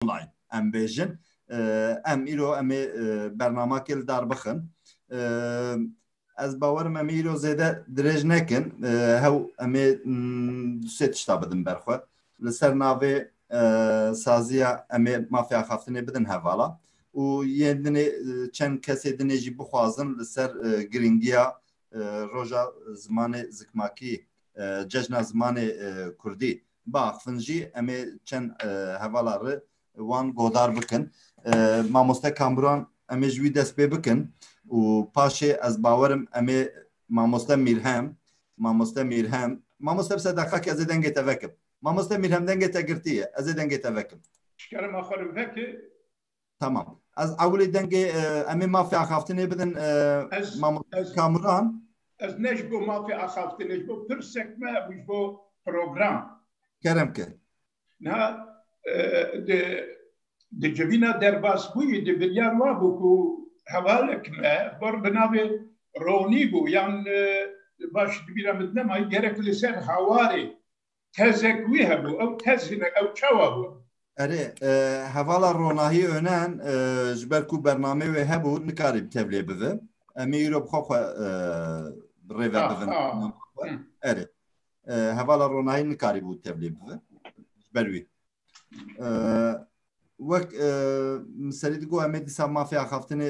online em bêjin em îro em ê bernama kê li dar bixin ez bawerim em îro zêde dirêj nekin hew em ê du sê tişta bidin ber xwe li ser navê saziya em ê mafya xaftinê bidin hevala û yên dinê çend kesê dinê jî bixwazin li ser giringiya roja zimanê zikmakî cejna zimanê kurdî Baxfin jî em ê çend hevala ri wan godar bikin. Mamoste Kamran em ê ji wî dest pê bikin û paşê ez bawerim em ê mamoste Mîrhem mamoste Mîrhem mamoste bise deqakê ez ê dengê te vekim. Mamoste Mîrhem dengê te girtiye ez ê dengê te vekim. Şikerima xwe li veke Tamam. Ez ewlê dengê em ê mafê axaftinê bidin mamoste Kamuran. Ez ne ji bo mafê axaftinê ji bo pirsek me hebû ji bo program. Kerem ki. Na di di civîna derbasbûyî di biryar wa bû ku hevalek me bor bi navê Ronî bû yan baş di bîra min nema gerek li ser hawarê tezek wî hebû ew tez hine ew çawa bû? Erê hevala ronahî önen ji ber ku bernamê wê hebû nikarî bi tevlê bivin. Em ê îro bi xwe xwe bi rêve bivin. Erê hevala ronahî nikarî bû tevlê bivin ji ber wî. Wek miserî digo em ê dîsa mafê axaftinê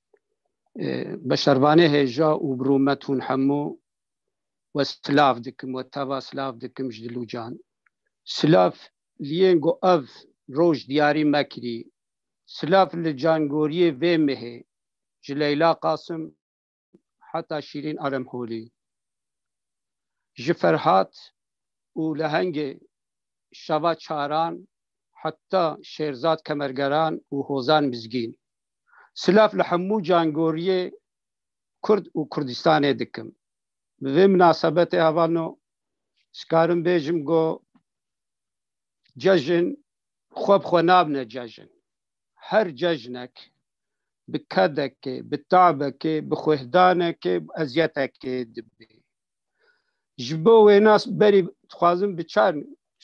beşervanê hêja û birûmet hûn hemû we silav dikim we teva silav dikim ji dilû can silav liyên got ev roj diyarî mekirî silav li cangoriyê vê mihê ji leyla qasim heta şîrîn alemholî ji ferhat û lehengê şeva çaran heta şêrzad kemergeran û hozan mizgîn Silav li hemû cangoriyê Kurd û Kurdistanê dikim. Bi vê minasebetê hevano dikarim bêjim go cejin xwe bi xwe nabine cejin. Her cejnek bi kedekê, bi tabekê, bi xwehdanekê, bi eziyetekê dibê. Ji bo wê nas berî dixwazim bi çar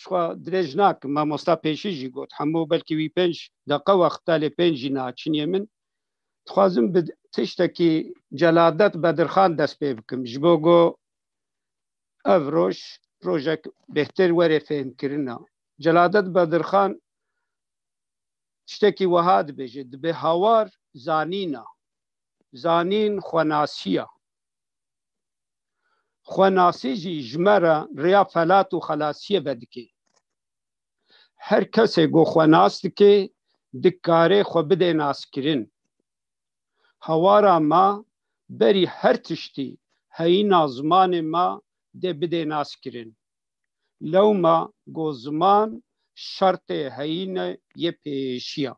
xwa dirêj nakim mamosta pêşî jî got hemû belkî wî pênc deqa wexta lê pênc jî naçiniyê min dixwazim bi tiştekî celadet bedirxan dest pê bikim ji bo go ev roj rojek bêhtir werê fêhmkirina celadet bedirxan tiştekî wiha dibêje dibê hawar zanîna zanîn xwenasiya Xwenasî jî ji me re rêya felat û xelasiyê vedike. Her kesê ku xwe nas dike, dikarê xwe bide naskirin. Hawara me berî her tiştî heyîna zimanê me dê bide naskirin. Lewma ku ziman şertê heyînê yê pêêşiya.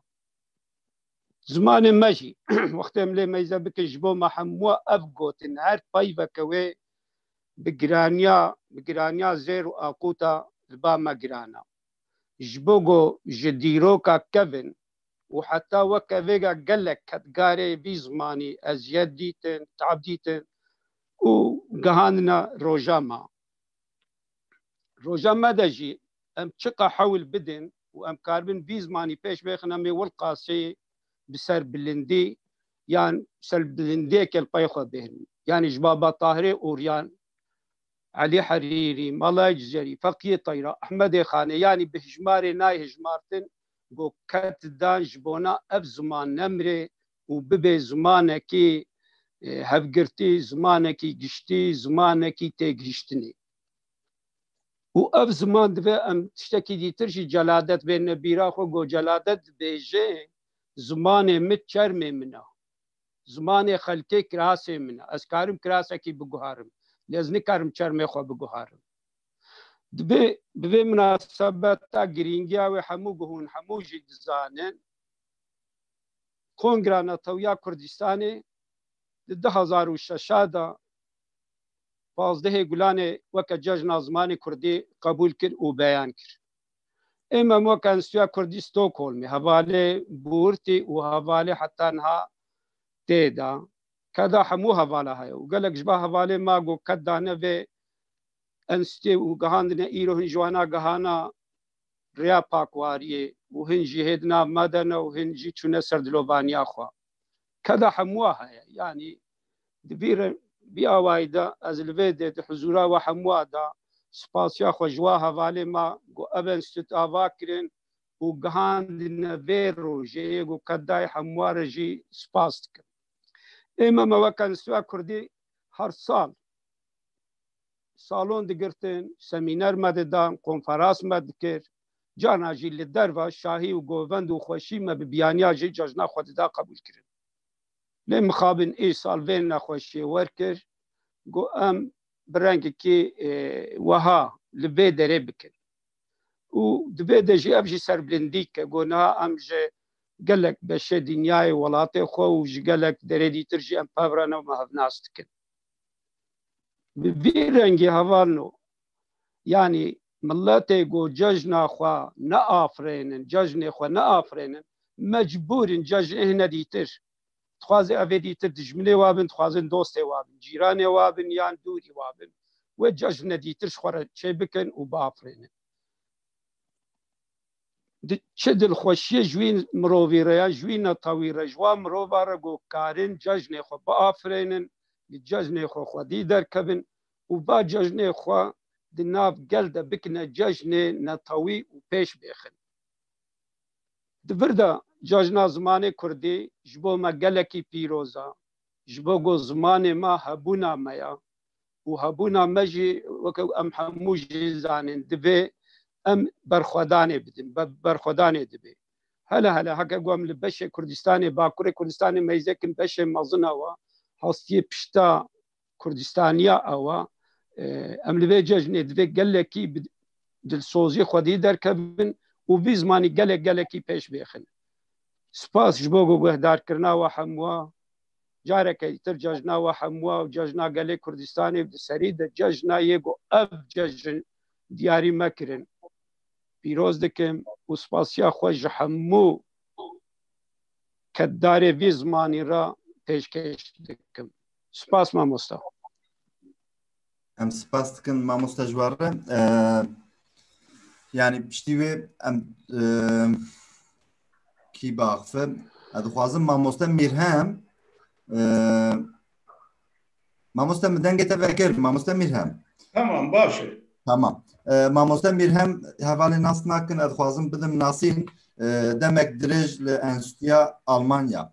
Zimanê me jî wextê em lê meyze bikin ji bo me hemû ev gotin her peyveke wê bi giraniya bi giraniya zêr û aquta li ba me giran e. Ji bo ku ji dîroka kevin û heta weke vêga gelek kedgarê vî zimanî eziyet dîtin, tab dîtin û gihandine roja me. Roja me de jî em çiqa hewl bidin û em karibin vî zimanî pêş bixin em ê wil qaseyê bi ser bilindî yan ser bilindiyê kelpayê xwe bêrin. Yanî ji Baba Tahirê Uryan, Elî Herîrî, Malay Cizerî, Feqiyê Tayra, Ehmedê Xanê yanî bi hijmarê nayê hijmartin ku ket dan ji bona ev ziman nemrê û bibe zimanekî hevgirtî, zimanekî giştî, zimanekî têgihiştinê. Û ev ziman divê em tiştekî dîtir jî celadet bêne bîra xwe ku celadet dibêje zimanê min çermê min e. Zimanê xelkê kirasê min e. Ez karim kirasekî biguharim. Lê ez nikarim çermê xwe biguharim. Divê bi vê minasebeta girîngiya wê hemû guhûn, hemû jî dizanin Kongra Netewîya Kurdistanê di du hezar û şeş de pazdehê gulanê weke cejna zimanê kurdî qebûl kir û beyan kir. Ê mem weke Enstîtuya Kurdî Stockholmê hevalê bûrtî û hevalê heta niha tê da. Keda hemû hevala heye û gelek ji ba hevalê ma got ked dane vê enstîtuyê û gihandine îro hin ji wana gihana rêya pakwariyê û hin jî hê di nav ma de ne û hin jî çûne ser dilovaniya xwe. Keda hemûa heye yanî di vî re vî awayî de ez li vê dê di hizûra we hemûa de spasiya xwe ji wa hevalê me ku ev enstîtût ava kirin û gihandine vê rojê yê ku kedayê hemûa re jî spas dikim. Ême me wek Enstîtuya Kurdî her sal salon digirtin, semîner me didan, konferans me dikir, Carna jî li derva şahî û govend û xweşî me bi biyaniya jê cejna xwe dida qebûl kirin. Lê mixabin îsal vê nexweşiyê werkir ku em bi rengekî weha li vê derê bikin. Û di vê de jî ev jî serbilindî dike ku niha em ji gelek beşê dinyayê welatê xwe û ji gelek derê dîtir jî em pev re ne û me hevnas dikin. Bi vî rengî hevalno yanî Miletê ku cejna xwe neafirênin, cejnê xwe neafirênin, mecbûr in cejnê hene dîtir. Dixwazin ev ê dîtir dijminê we bin, dixwazin dostê we bin, cîranê we bin yan dûrî we bin. Wê cejn ne dîtir ji xwe re çê bikin û biafirênin. Di çi dilxweşiyê ji wî mirovî re yan ji wî netewî re, ji wan mirovan re ku karin cejnê xwe biafirênin, li cejnê xwe xwedî derkevin û ba cejnê xwe di nav gel de bikine cejnê netewî û pêş bêxin. Di vir de cejna zimanê kurdî ji bo me gelekî pîroz e, ji bo ku zimanê me hebûna me ye û hebûna me jî weke ku em hemû jî zanîn divê em berxwedanê bidin, berxwedanê dibe. Hele hele heke ku em li beşê Kurdistanê, Bakurê Kurdistanê meyzêkin beşê mezin e we hastiyê pişta Kurdistaniya awa em li vê cejnê divê gelekî dilsozî xwedî derkevin û vî zimanî gelek gelekî pêş bêxin. Spas ji bo guhdarkirina we hemwa careke îtir cejna we hemwa û cejna gelê Kurdistanê di serî de cejna yê ku ev cejn diyarî me kirin. Pîroz dikim û spasiya xwe ji hemû keddarê vî zimanî re pêşkêş dikim. Spas mamosta. Em spas dikin mamosta ji war re. Yani piştî wê em kî baxfe ez dixwazim mamosta Mîrhem mamosta min dengê te vekir mamosta Mîrhem. Tamam baş e. Tamam. Mamosta Mîrhem hevalê nas nakin ez dixwazim bidim nasîn demek dirêj li Enstîya Almanya.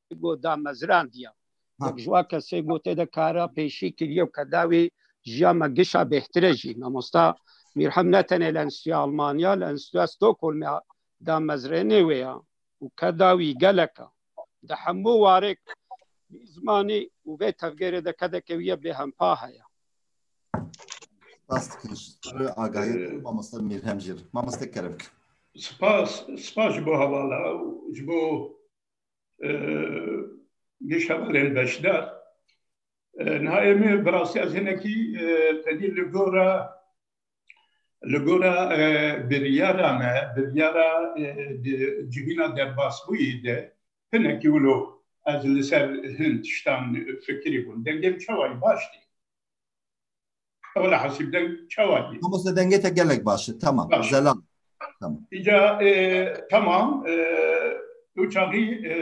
got damezrandiya. Wek ji wan kesê gotê de kara pêşî kiriye û ke dawî jiya me gişa bêhtire jî. Mamosta Mîrhem ne tenê li Enstîtuya Almanya li Enstîtuya Stockholmê damezrênê wê ya û ke dawî gelek a. Di hemû warêk vî zimanî û vê tevgêrê de kedeke wî ye bêhempa heye. Spas dikim ji te agahiyê te û mamosta Mîrhem jî re. Mamoste kerem bike. Spas, spas ji bo hevala û ji bo geş hevalên beşdar. Niha êmê bi rastî ez hinekî tenî li gora li gora biryara me, biryara cihîna derbasbûyî de hinekî wilo ez li ser hin tiştan fikirî bûm. Dengên çawa yî baş tê. Ewla hasîb deng çawa ye? Mamoste dengê te gelek baş e. Tamam. Baş. Zelal. Tamam. Îca e, tamam e, ew çaxî e,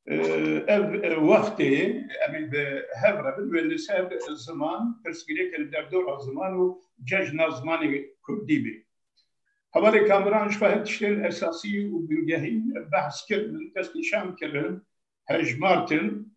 e, ev e, wextê em ê bi hev re bin wê li ser ziman pirsgirêk li derdora ziman û cejna zimanê kurdî bê. Hevalê Kamuran ji xwe hin tiştên esasî û bingehîn behs kirin, destnîşan kirin, hejmartin.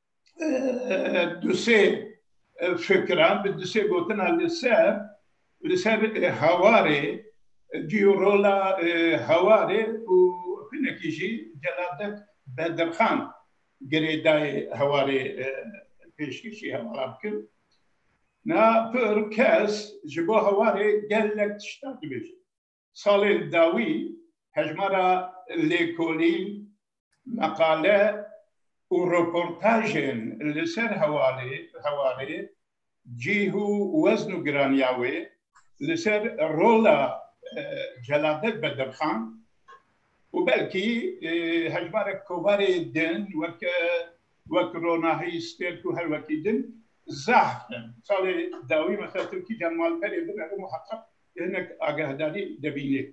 du sê fikiran bi du sê gotina li ser li ser hewarê cîyo rola hewarê û hinekî jî Celadet Bedirxan girêdayê hewarê pêşkêşî hewara bikir. Na pir kes ji bo hewarê gelek tiştan dibêjin. Salê dawî hejmara lêkolî, meqale û reportajên li ser hewalê hewarê, cîh û wezn û giraniya wê, li ser rola Celadet Bedirxan û belkî hejmarek kovarê din weke wek ronahî, stêrk û her wekî din zahf in. Salê dawî mexetirkî Can Malperê binerim û heqeq hinek agahdarî dibîne.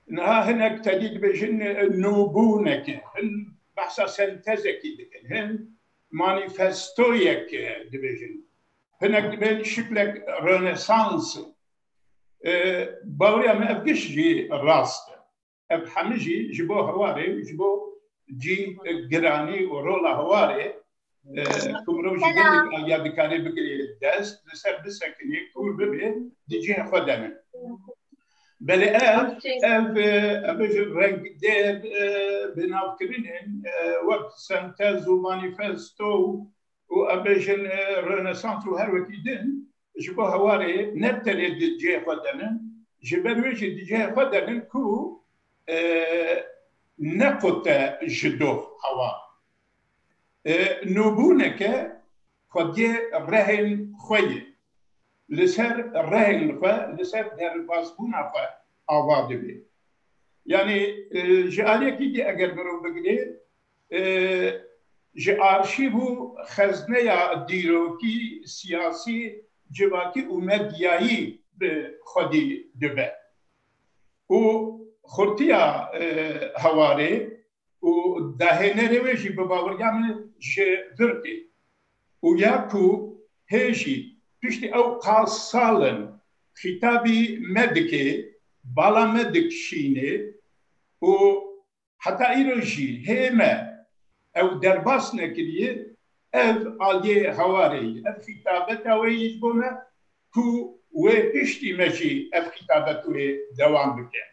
Niha hinek tedî dibêjin nûbûneke, hin behsa sentezekî dikin, hin manîfestoyek dibêjin. Hinek dibên şiklek Rönesans. Baweriya me ev giş jî rast e. ev hemû jî ji bo hewarê û ji bo cî giranî û rola hewarê ku mirov ji gelek alîya dikarê bigirê dest li ser bisekinê kûr bibê di cihê xwe de ne. Belê ev ev ev ji rengdêr bi navkirinên wek sentez û manîfesto û ev jin rönesans û her wekî din Ji bo hewarê ne tenê di cihê xwe de ne, ji ber wê jî di cihê xwe de ne ku nequte ji doh hewar. Nûbûneke xwediyê rehên xwe ye. Li ser rehên xwe, li ser derbasbûna xwe ava dibe. Yanî ji aliyekî dî eger mirov bigire ji arşîv û xezneya dîrokî, siyasî, civakî û medyayî bi xwedî dibe û xurtiya hewarê û dahênerê wê jî bi baweriya min ji vir tê û ya ku hê jî piştî ew qal sal in xîtabî me dike, bala me dikişîne û Heta îro jî hê me ew derbas nekiriye, ev aliyê Hawarê ye, ev xîtabeta wê ye ji bo me ku wê piştî me jî ev xîtabet wê dewam bike.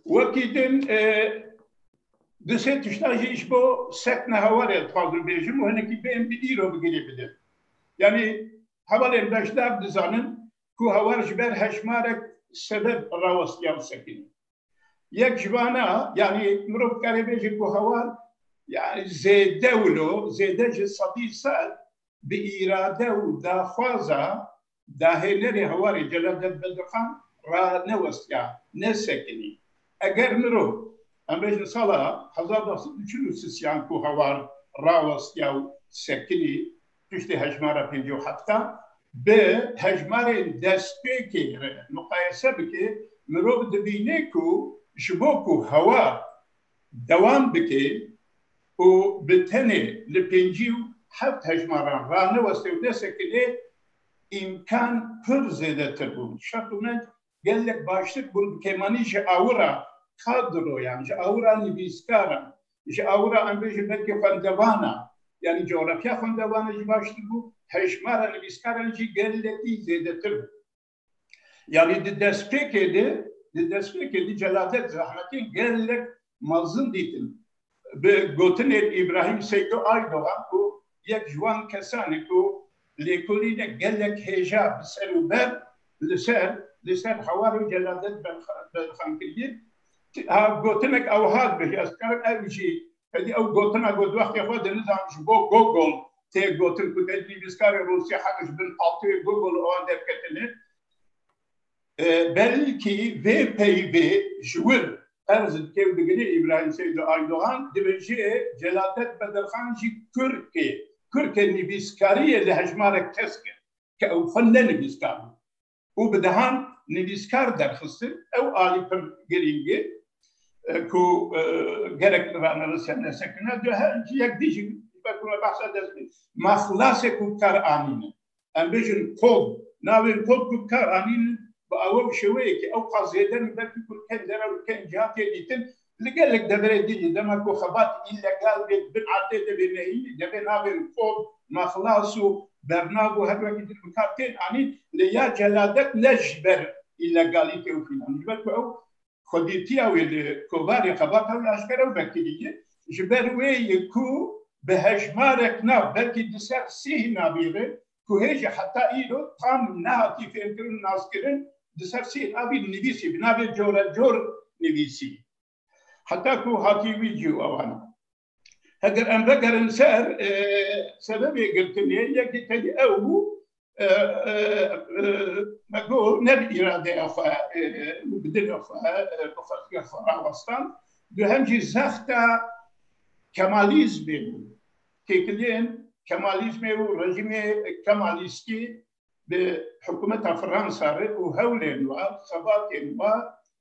Wekî din du sê tişta jî ji bo sekna Hawarê dixwazim bêjim û hinekî bên bi îro bi girê bidim. Yanî hevalên beşdar dizanin ku Hawar ji ber hejmarek sebeb rawestiya ew sekinî. Yek ji vana yanî mirov karê bêje ku hewa yani zêde wilo, zêde ji sedî sed bi îrade û daxwaza dahênerê hewarê Celadet Bedirxan re newestiya, nesekinî. Eger mirov em bêjin sala hezar neh sed û çil û sisiyan ku hewar rawestiya û sekinî piştî hejmara pêncî û hefta bi hejmarên destpêkê re muqayese bike, mirov dibîne ku ji bo ku hewa dewam bike û bi tenê li pêncî û heft hejmaran raneweste û nesekine, îmkan pir zêdetir bûn. Şertûmend Gelek baştir bûn bi kêmanî ji awira kadroyan, ji awira nivîskaran, ji awira em bêjin belkî xwendevanan, yanî cografya xwendevanan jî baştir bû, hejmara nivîskaran jî gelekî zêdetir bû. Yanî di destpêkê de, di destpêkê de Celadet Zahmetî gelek mezin dîtin. Bi gotinên Îbrahîm Seydo Aydogan ku yek ji wan kesan e ku lêkolîne gelek hêja bi ser û ber li ser li ser hawar û celadet berxan kiriye ha gotinek ew hat bi ez dikarim ev jî hêdî ew gotina got wextê xwe di nizanim ji bo Gogol tê gotin ku te nivîskarê Rûsî heq ji bin altoyê Gogol û wan derketine. Belkî vê peyvê ji wir qerz dikê û digire Îbrahîm Seydo Aydogan dibêje Celadet Bedirxan jî Kurd e. Kurd e nivîskariyê li hejmarek kes kir ke ew xwe ne nivîskar bû û bi dehan nivîskar derxistin. Ew alî pir girîng e ku gelek li Ranirise nesekine. Duh ji yek dijîn wek ku me behsa dest pê ma xilasek û kar anîne. Em bêjin kol. Navê kol ku bikar anîn bi awe bi şêweyekî ewqas zêde ne belkî ku li ken dere û li ken ciha tê dîtin. Li gelek deverê din jî dema ku xebat îllegal bê di bin erdê de bê nehînî de bê navên kol, naxlas û bernav û her wekî din bikar tên anîn. Lê ya celadet ne ji ber îllegalîtê û fîlan ji ber ku ew xwedîtiya wê li kovarê xebata wê aşkera û vekirî ye. Ji ber wê ye ku bi hejmarek nav, belkî di ser sîh navî re ku hê jî heta îro tam nehatî fêmkirin û naskirin, di ser sîh navî nivîsî, bi navê corecor nivîsî. Heta ku hatî wî cî û awan. Heger em vegerin ser sebebê girtinê yekî tedî ew bû me got ne bi îradeya xwe û bi dilê xwe bi xelkê xwe rawestan duhem jî zexta kemalîzmê bû têkiliyên kemalîzmê û rejîmê kemalîstî bi hikûmeta Fransa re û hewlên wa, xebatên wa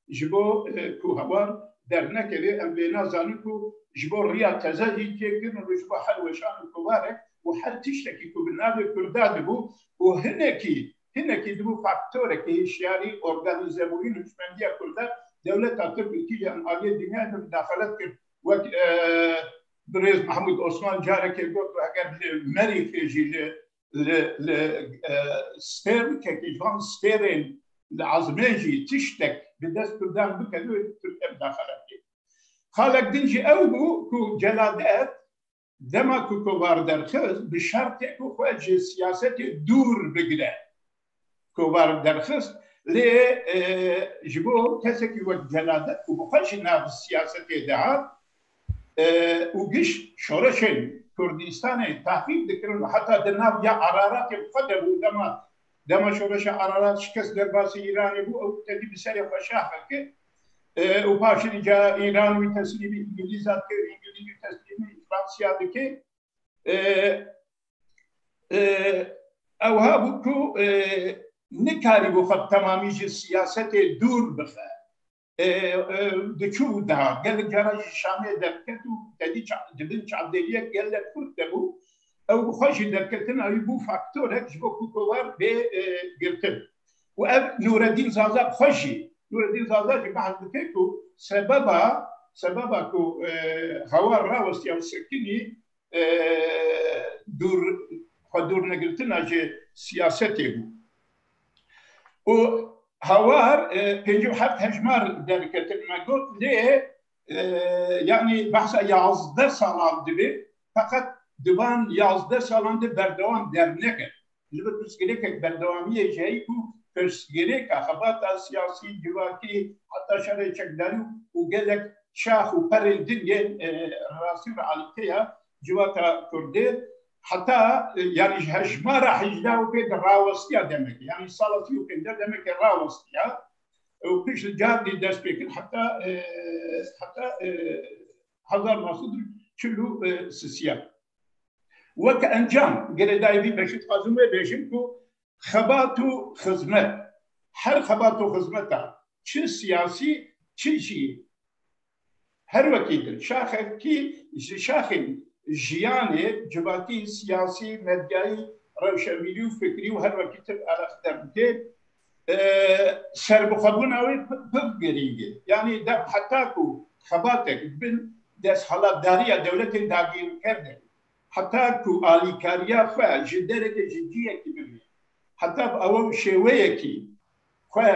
ji bo ku hawar dernekeve em bê nazanin ku ji bo riya teze jî têkirin û ji bo her weşan û kovarek û her tiştekî ku bi navê Kurda dibû û hinekî hinekî dibû faktorekî hişyarî organîzebûyî hişmendiya Kurda dewleta Tirk û tîjî em aliyê dinyayê bi midaxelet kir wek birêz Mehmûd Osman carekê got û heger li Merîxê jî li li li stêr kekî ji van stêrên li ezmê jî tiştek bi dest Kurdan bike wê li Tirkiye midaxele bike. Xalek din jî ew bû ku Celadet dema ku kovar derxist bi şertê ku xwe ji siyasetê dûr bigire. kovar derxist lê ji bo kesekî wek Celadet ku bi xwe jî nav siyasetê dihat û giş şoreşên Kurdistanê tahrîb dikirin û heta di nav ya Araratê bi xwe de bû dema dema şoreşa Ararat şikest derbasî Îranê bû ew tevî bi serê xwe şaxe kir û paşê îcar Îran wî teslîmî Îngilîzan kir Îngilîz wî teslîmî Fransiya dike. Ew hebû ku nikarîbû xwe bi temamî ji siyasetê dûr bixe. Diçû û dihat. Gelek caran jî Şamê derket û tedî di bin çavdêriyek gelek xurt de bû. Ew bi xwe jî derketina wî bû faktorek ji bo ku kovard bê girtin. û ev Nûredîn Zaza xwe jî Nûredîn Zaza jî behs dike ku sebeba sebeba ku hawar rawestiya û sekinî dûr xwe dûr negirtina ji siyasetê bû û hawar pêncî û heft hejmar derketin me got lê yanî behsa yazdeh salan dibe feqet di van yazdeh salan de berdewam derneket. Ji ber pirsgirêkek berdewamiyê ji heyî ku pirsgirêka xebata siyasî, civakî heta şerê çekdarî û gelek şax û perên din yên rastî û realîte ya civaka kurdê heta yanî ji hejmara hejda û pênc rawestiya demekê yanî sala sî û pênc demekê rawestiya û pişt li Candê dest pê kir heta heta hezar neh sed û çil û sisiya. Weke encam girêdayî vî beşê dixwazim wê bêjim ku xebat û xizmet her xebat û xizmeta çi siyasî çi jî Her wekî di şaxekî ji şaxên jiyanê civakî, siyasî, medyayî, rewşenbîrî û fikrî û her wekî tib eleqte bike, serbixwebûna wê pir girîng e. Yanî dev heta ku xebatek di bin desthilatdariya dewletên dagirker de be, heta ku alîkariya xwe ji derekê ji ciyekî bibîne, heta bi ew şêweyekî xwe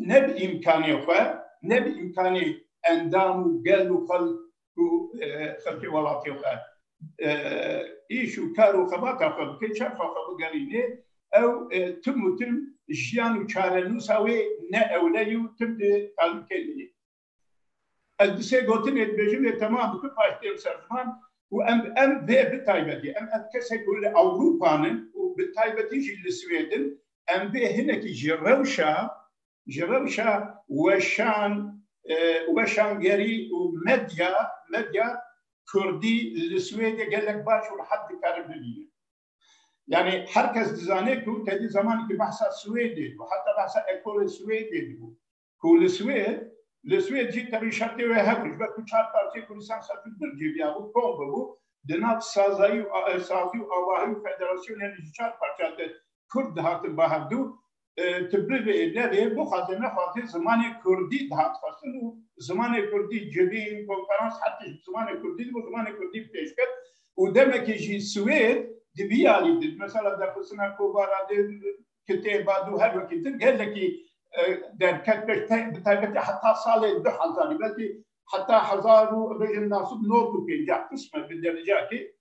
ne bi îmkanê xwe ne bi îmkanê endam û gel û xelk û xelkê welatê xwe îş û kar û xebata xwe bike çerxa xwe bigerînê ew tim û tim jiyan û çarenûsa wê ne ewle yê û tim di talûkê de yê. Ez bi sê gotinê dibêjim lê temam bi du paş dêm ser ziman ku em em vê bi taybetî em ev kesek ku li Ewropan in û bi taybetî jî li Swêd in em vê hinekî ji rewşa ji rewşa weşan weşangerî û medya medya kurdî li Swêdê gelek baş û rehet dikarin bibînin. Yanî her kes dizane ku tevî zemanekî behsa Swêdê dibû heta behsa ekolê Swêdê dibû ku li Swêd li Swêd jî tevî şertê wê hebû ji ber ku çar partiyên Kurdistan Selçûk Dûr cêbiya bû kom bibû di nav sazayî û sazî û avahî û federasyonê li ji çar parçeya te Kurd dihatin ba hevdu tu bivê nevê bixwazê nexwazê zimanê Kurdî dihat xwestin û zimanê Kurdî civîn konferans her tişt bi zimanê Kurdî dibû zimanê Kurdî bi pêş ket û demekê jî Swêd di vî alî di mesela derxistina kovara di kitêba dû her wekî din gelekî derket pêş bi taybetî heta salê du hezarî belkî heta hezar û bêjin nasib not û pêncah qisme bi dercakî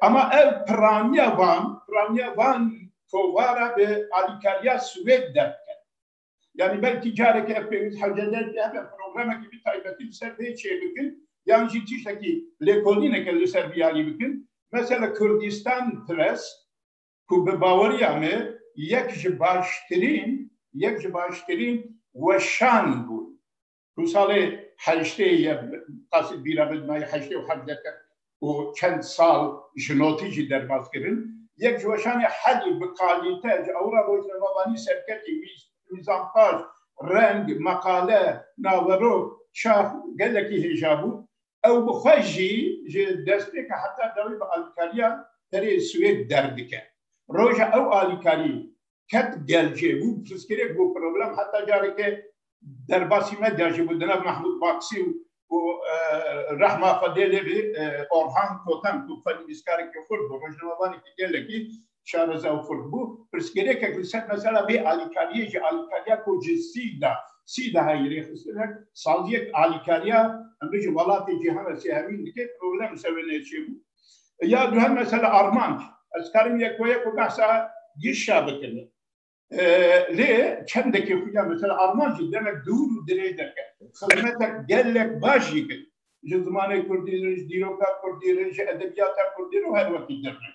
Ema ev piraniya van piraniya van kovara bi alîkariya Swêd derk kir. Yani belkî carekî ev pêwîst hewcede hebe programekî bi taybetî li ser vê çê bikin yan jî tiştekî lêkolîneke li ser vî alî bikin. Mesela Kurdistan Press ku bi baweriya me yek ji baştirîn yek ji baştirîn weşan bûn ku salê heştê ye qasî bîra min nayê heştê û hevdeh te û çend sal ji notî jî derbas kirin yek ji weşanê herî bi kalîte ji ewra rojnamevanî serketî mîz mîzanpaş reng meqale naverok çax gelekî hêja bû Ew bi xwe jî ji destpêka heta dawî bi alîkariya herê Swêd derdike. Roja ew alîkarî ket gel jê, bû bi pirsgirêk, bû problem. Heta careke derbasî medya jî bû di nav Mahmûd Baksî û rehma xwe dê lê bê Orhan Kotan ku xwe nivîskarekî xurt bû, rojnamevanekî gelekî şareza û xurt bû, pirsgirêkek li ser mesela vê alîkariyê ji alîkariya ku ji sî da sî da heye rêxistin e, saziyek alîkariya em bijin welatê cîhan re sê hevîn dike, problem li ser wê ne çêbû. Ya duhem mesela armanc, ez dikarim yek we yek û behsa GIŞ a bikim. Lê çendekê xwe ya mesela arman jî demek dûr û dirêj derket. Xizmetek gelek baş jî kir. Ji zimanê kurdî re, ji dîroka kurdî re, ji edebiyata kurdî re û her wekî dir re.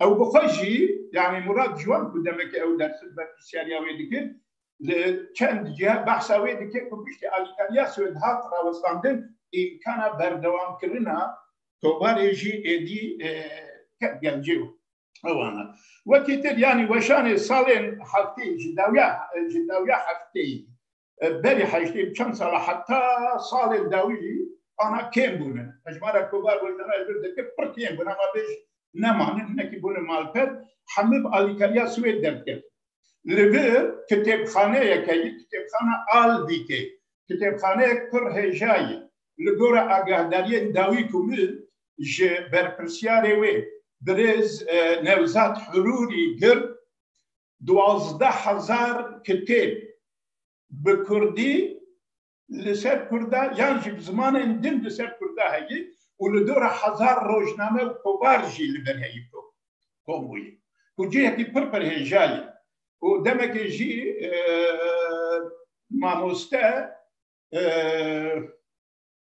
Ew bi xwe jî yanî Murad Ciwan ku demekê ew dersim berpirsiyariya wê dikir li çend ciha behsa wê dike ku piştî alîkariya Swêd hat rawestandin îmkana berdewamkirina kovarê jî êdî ket gelcê û Ewana. Wekî tir yanî weşanê salên heftê ji dawiya ji dawiya heftê berî heştê çend sala heta salên dawî jî ana kêm bûne. Hejmara kovar weşana ji deke pir kêm bûne ama bêj nemane hinekî bûne malper hemû bi alîkariya Swêd derdikevin. Li vir kitêbxaneyeke ye kitêbxana Alvîkê kitêbxaneyek pir hêja ye. Li gora agahdariyên dawî ku min ji berpirsyarê wê birêz Newzad Hirûrî gir duwazdeh hezar kitêb bi kurdî li ser kurda yan jî bi zimanên din li ser kurda heye û li dora hezar rojname û kovar jî li vir heye kom bûye ku cihekî pir pir hêja ye û demekê jî mamoste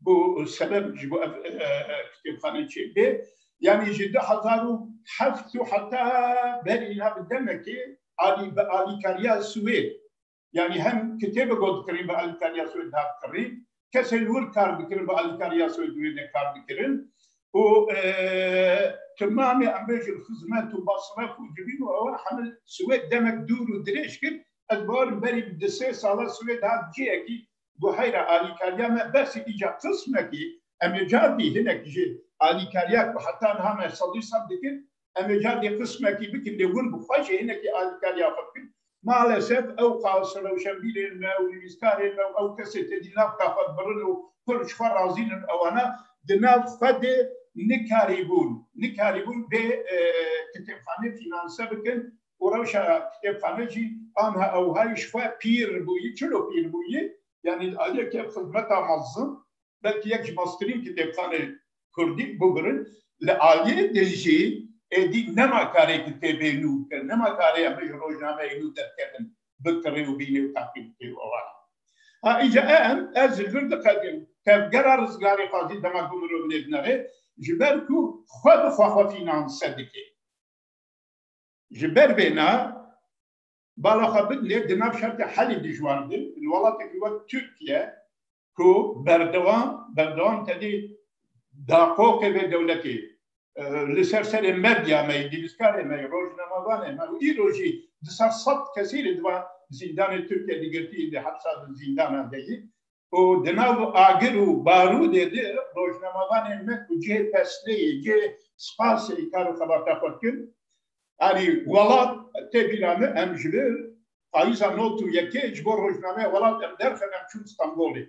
bo sebeb ji bo ev kitêbxane çêbê yanî ji du hezar û heft û heta berî na bi demekê alî bi alîkariya Swêd yanî hem kitêbe got dikirîn bi alîkariya Swêd hat kirî kesê li wir kar dikirin bi alîkariya Swêd wê ne kar dikirin û timamê em bêjin xizmet û masref û civîn û ewa hemil Swêd demek dûr û dirêj kir ez barim berî bi di sê sala Swêd hat ciyekî guheyra alîkariya me bersî îca qismekî em ê cardî hinek ji alîkariya ku heta niha me sed û sed dikin em ê cardî qismekî bikin lê hûn bi xwe jî hinekî alîkariya xwe bikin. Malesef ew qas rewşenbîrên me û nivîskarên me û ew kesên tê di nav ka xwe dibirin û pir ji xwe razîn in ewana di nav xwe de nikarîbûn nikarîbûn bê kitêbxanê fînanse bikin û rewşa kitêbxane jî anha ewhayî ji xwe pîr bûyî, çilo pîr bûyî, yanî li aliyê ke xizmeta mezin belkî yek ji meztirîn kitêbxanên kurdî bigrin, li aliyê din jî êdî nema karê kitêbê nû bike, nema karê em ji rojnameyê nû derkevin bikirê û bînê û teqî bike û eware. Ha îca em, ez ji vir diqedin tevgera rizgarê xwe jî dema ku mirov nêdine rê, ji ber ku xwe bi xwe xwe fînanse dike. Ji ber vê na bala xwe bidilê di nav şertê helî dijwar de li welatekî wek Tirkiye ku berdewam berdewam tedê daqoqê vê dewletê li ser serê medya me yî, nivîskarê me yî, rojnamevanê me û îro jî di ser sed kesî li di van zîndanê Tirkiye di girtî yî di hepsa di zîndanan de yî û di nav agir û barûdê de rojnamevanên me ku cihê pesneyê, cihê spasê kar û xebata xwe dikin alî welat tê bîra min em ji vir payiza not û yekê ji bo rojnameya welat em derxin em çûn Stenbolê.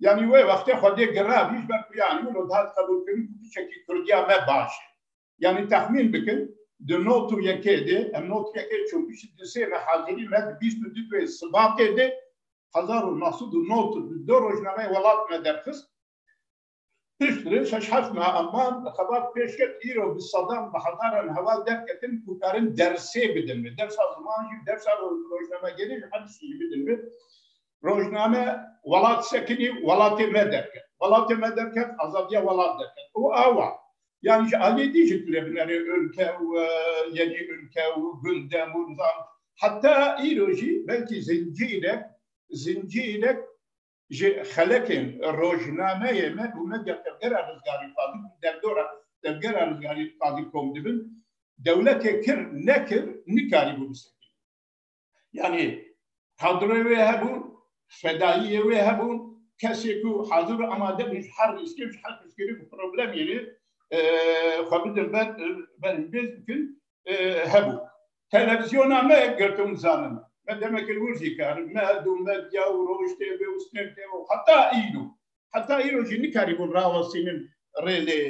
Yanî wê wextê xwedê girabî ji ber ku yanî wilo dihat qebûlkirin ku piçekî kurdiya me baş e. Yanî texmîn bikin di not û yekê de em not û yekê çokîşî di sê re hazirî me di bîst û du wê sibatê de hezar û neh sed û nod û du rojnameyê welat me derxist. Pişt re şeş heft meha em man li xebat pêş ket îro bi sedan bi hezaran heval derketin ku karin dersê bidin me. Dersa ziman jî, dersa rojnamegerî jî her tiştî jî bidin me. rojname welat sekinî welatê me derket. Welatê me derket azadiya welat derket. Û awa yanî ji aliyê dî jî tu rê binerê ûlke û yenî ûlke û gunde û nizam heta îro jî belkî zincîrek zincîrek ji xelekên rojnameyê me û medya tevgera rizgarî xwazin û derdora tevgera rizgarî xwazin kom dibin dewletê kir nekir nikarîbû bisekinî. Yani kadroyê wê hebûn, fedayiyê wê hebûn, kesê ku hazir û amade bû ji her rîskê û ji her piştgirî û problemê rê xwe bidin ber ber hêz bikin hebû. Televîzyona me girtin zanin. Me demekir wir jî karin. Me dû medya û rojtê wê û stêrtê wê heta îro. Heta îro jî nikarîbûn rawestînin rê lê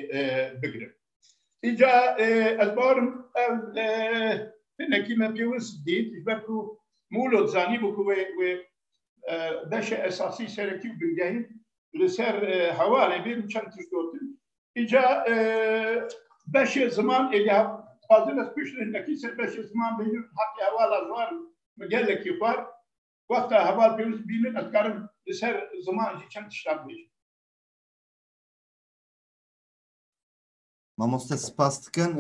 bigirin. Îca ez barim ev tenekî me pêwis dît ji ber ku Mûlot zanîbû ku wê wê beşê esasî serekî û bingehî li ser hevalê bê min çend tişt gotin. Îca beşê ziman êdî dixwazin ez pişt nekî ser beşê ziman bêjim heqê hevala xwar min gelekî xwar wexta heval pêwis bînin ez dikarim li ser ziman jî çend tiştan bêjim. Mamoste spas dikim.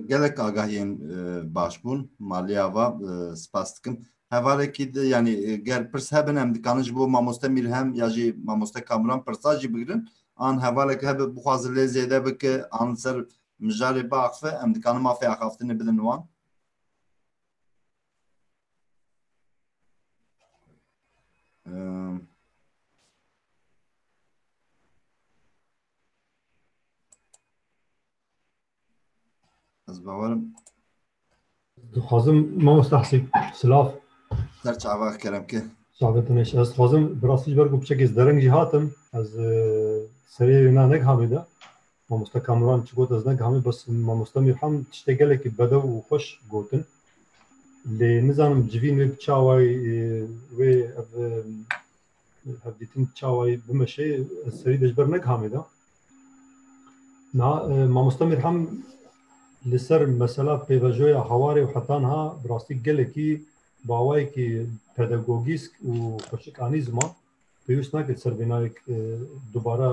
Gelek agahiyên baş bûn. Maliya va spas dikim. Hevalekî di yanî ger pirs hebin em dikarin ji bo mamoste Mîlhem ya jî mamoste Kamuran pirsa jî bigirin. An hevalek hebe bixwaze lê zêde bike an li ser mijarê biaxife em dikarin mafê axaftinê bidin wan. Ez bawerim. Dixwazim mamosta Hesî silav. Ser çava kerem ki. Çavê te neşe. Ez dixwazim bi rastî ji ber ku piçekê ez dereng jî hatim. Ez e, serê wê na negihamê de. Mamosta Kamuran çi got ez negihamê bes mamosta Mîrham tiştê gelekî bedew û xweş gotin. Lê nizanim civîn wê bi çawayê e, wê ev e, hevdîtin çawayî bimeşê ez serî de ji ber negihamê de niha mamosta Mîrhem li ser mesela pêvajoya hewarê û hetan ha bi rastî gelekî bawayekî pedagogîsk û xweşikanî zima pêwîst nake ser vê nayek dubara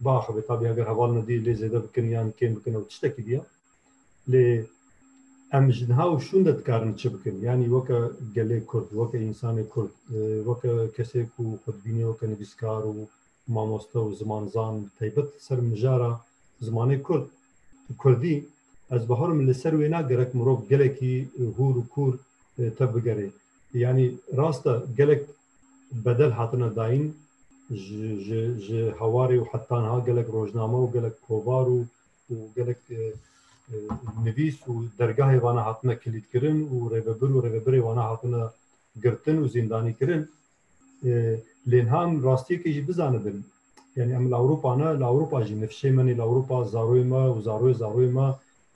biaxive tabî eger heval nedî lê zêde bikin yan kêm bikin ew tiştekî diya. lê em ji niha û şûnde dikarin çi bikin yanî weke gelê Kurd weke însanê Kurd weke kesê ku xwe dibînê weke nivîskar û mamoste û zimanzan bi taybet ser mijara zimanê Kurd Kurdî ez biharim li ser wêna gerek mirov gelekî hûr û kûr tev bigerê yanî rasta gelek bedel hatine dayîn ji hewarê û hetanha gelek rojname û gelek kovar û gelek nivîs û dergahê vana hatine kilîdkirin û rêvebir û rêvebirê vana hatine girtin û zîndanîkirin lê niha em rastiyekê jî bizanibin yanî em li Ewropa ne li Ewropa jî nifşê me nê li Ewropa zaroyê me û zaroyê zaroyê me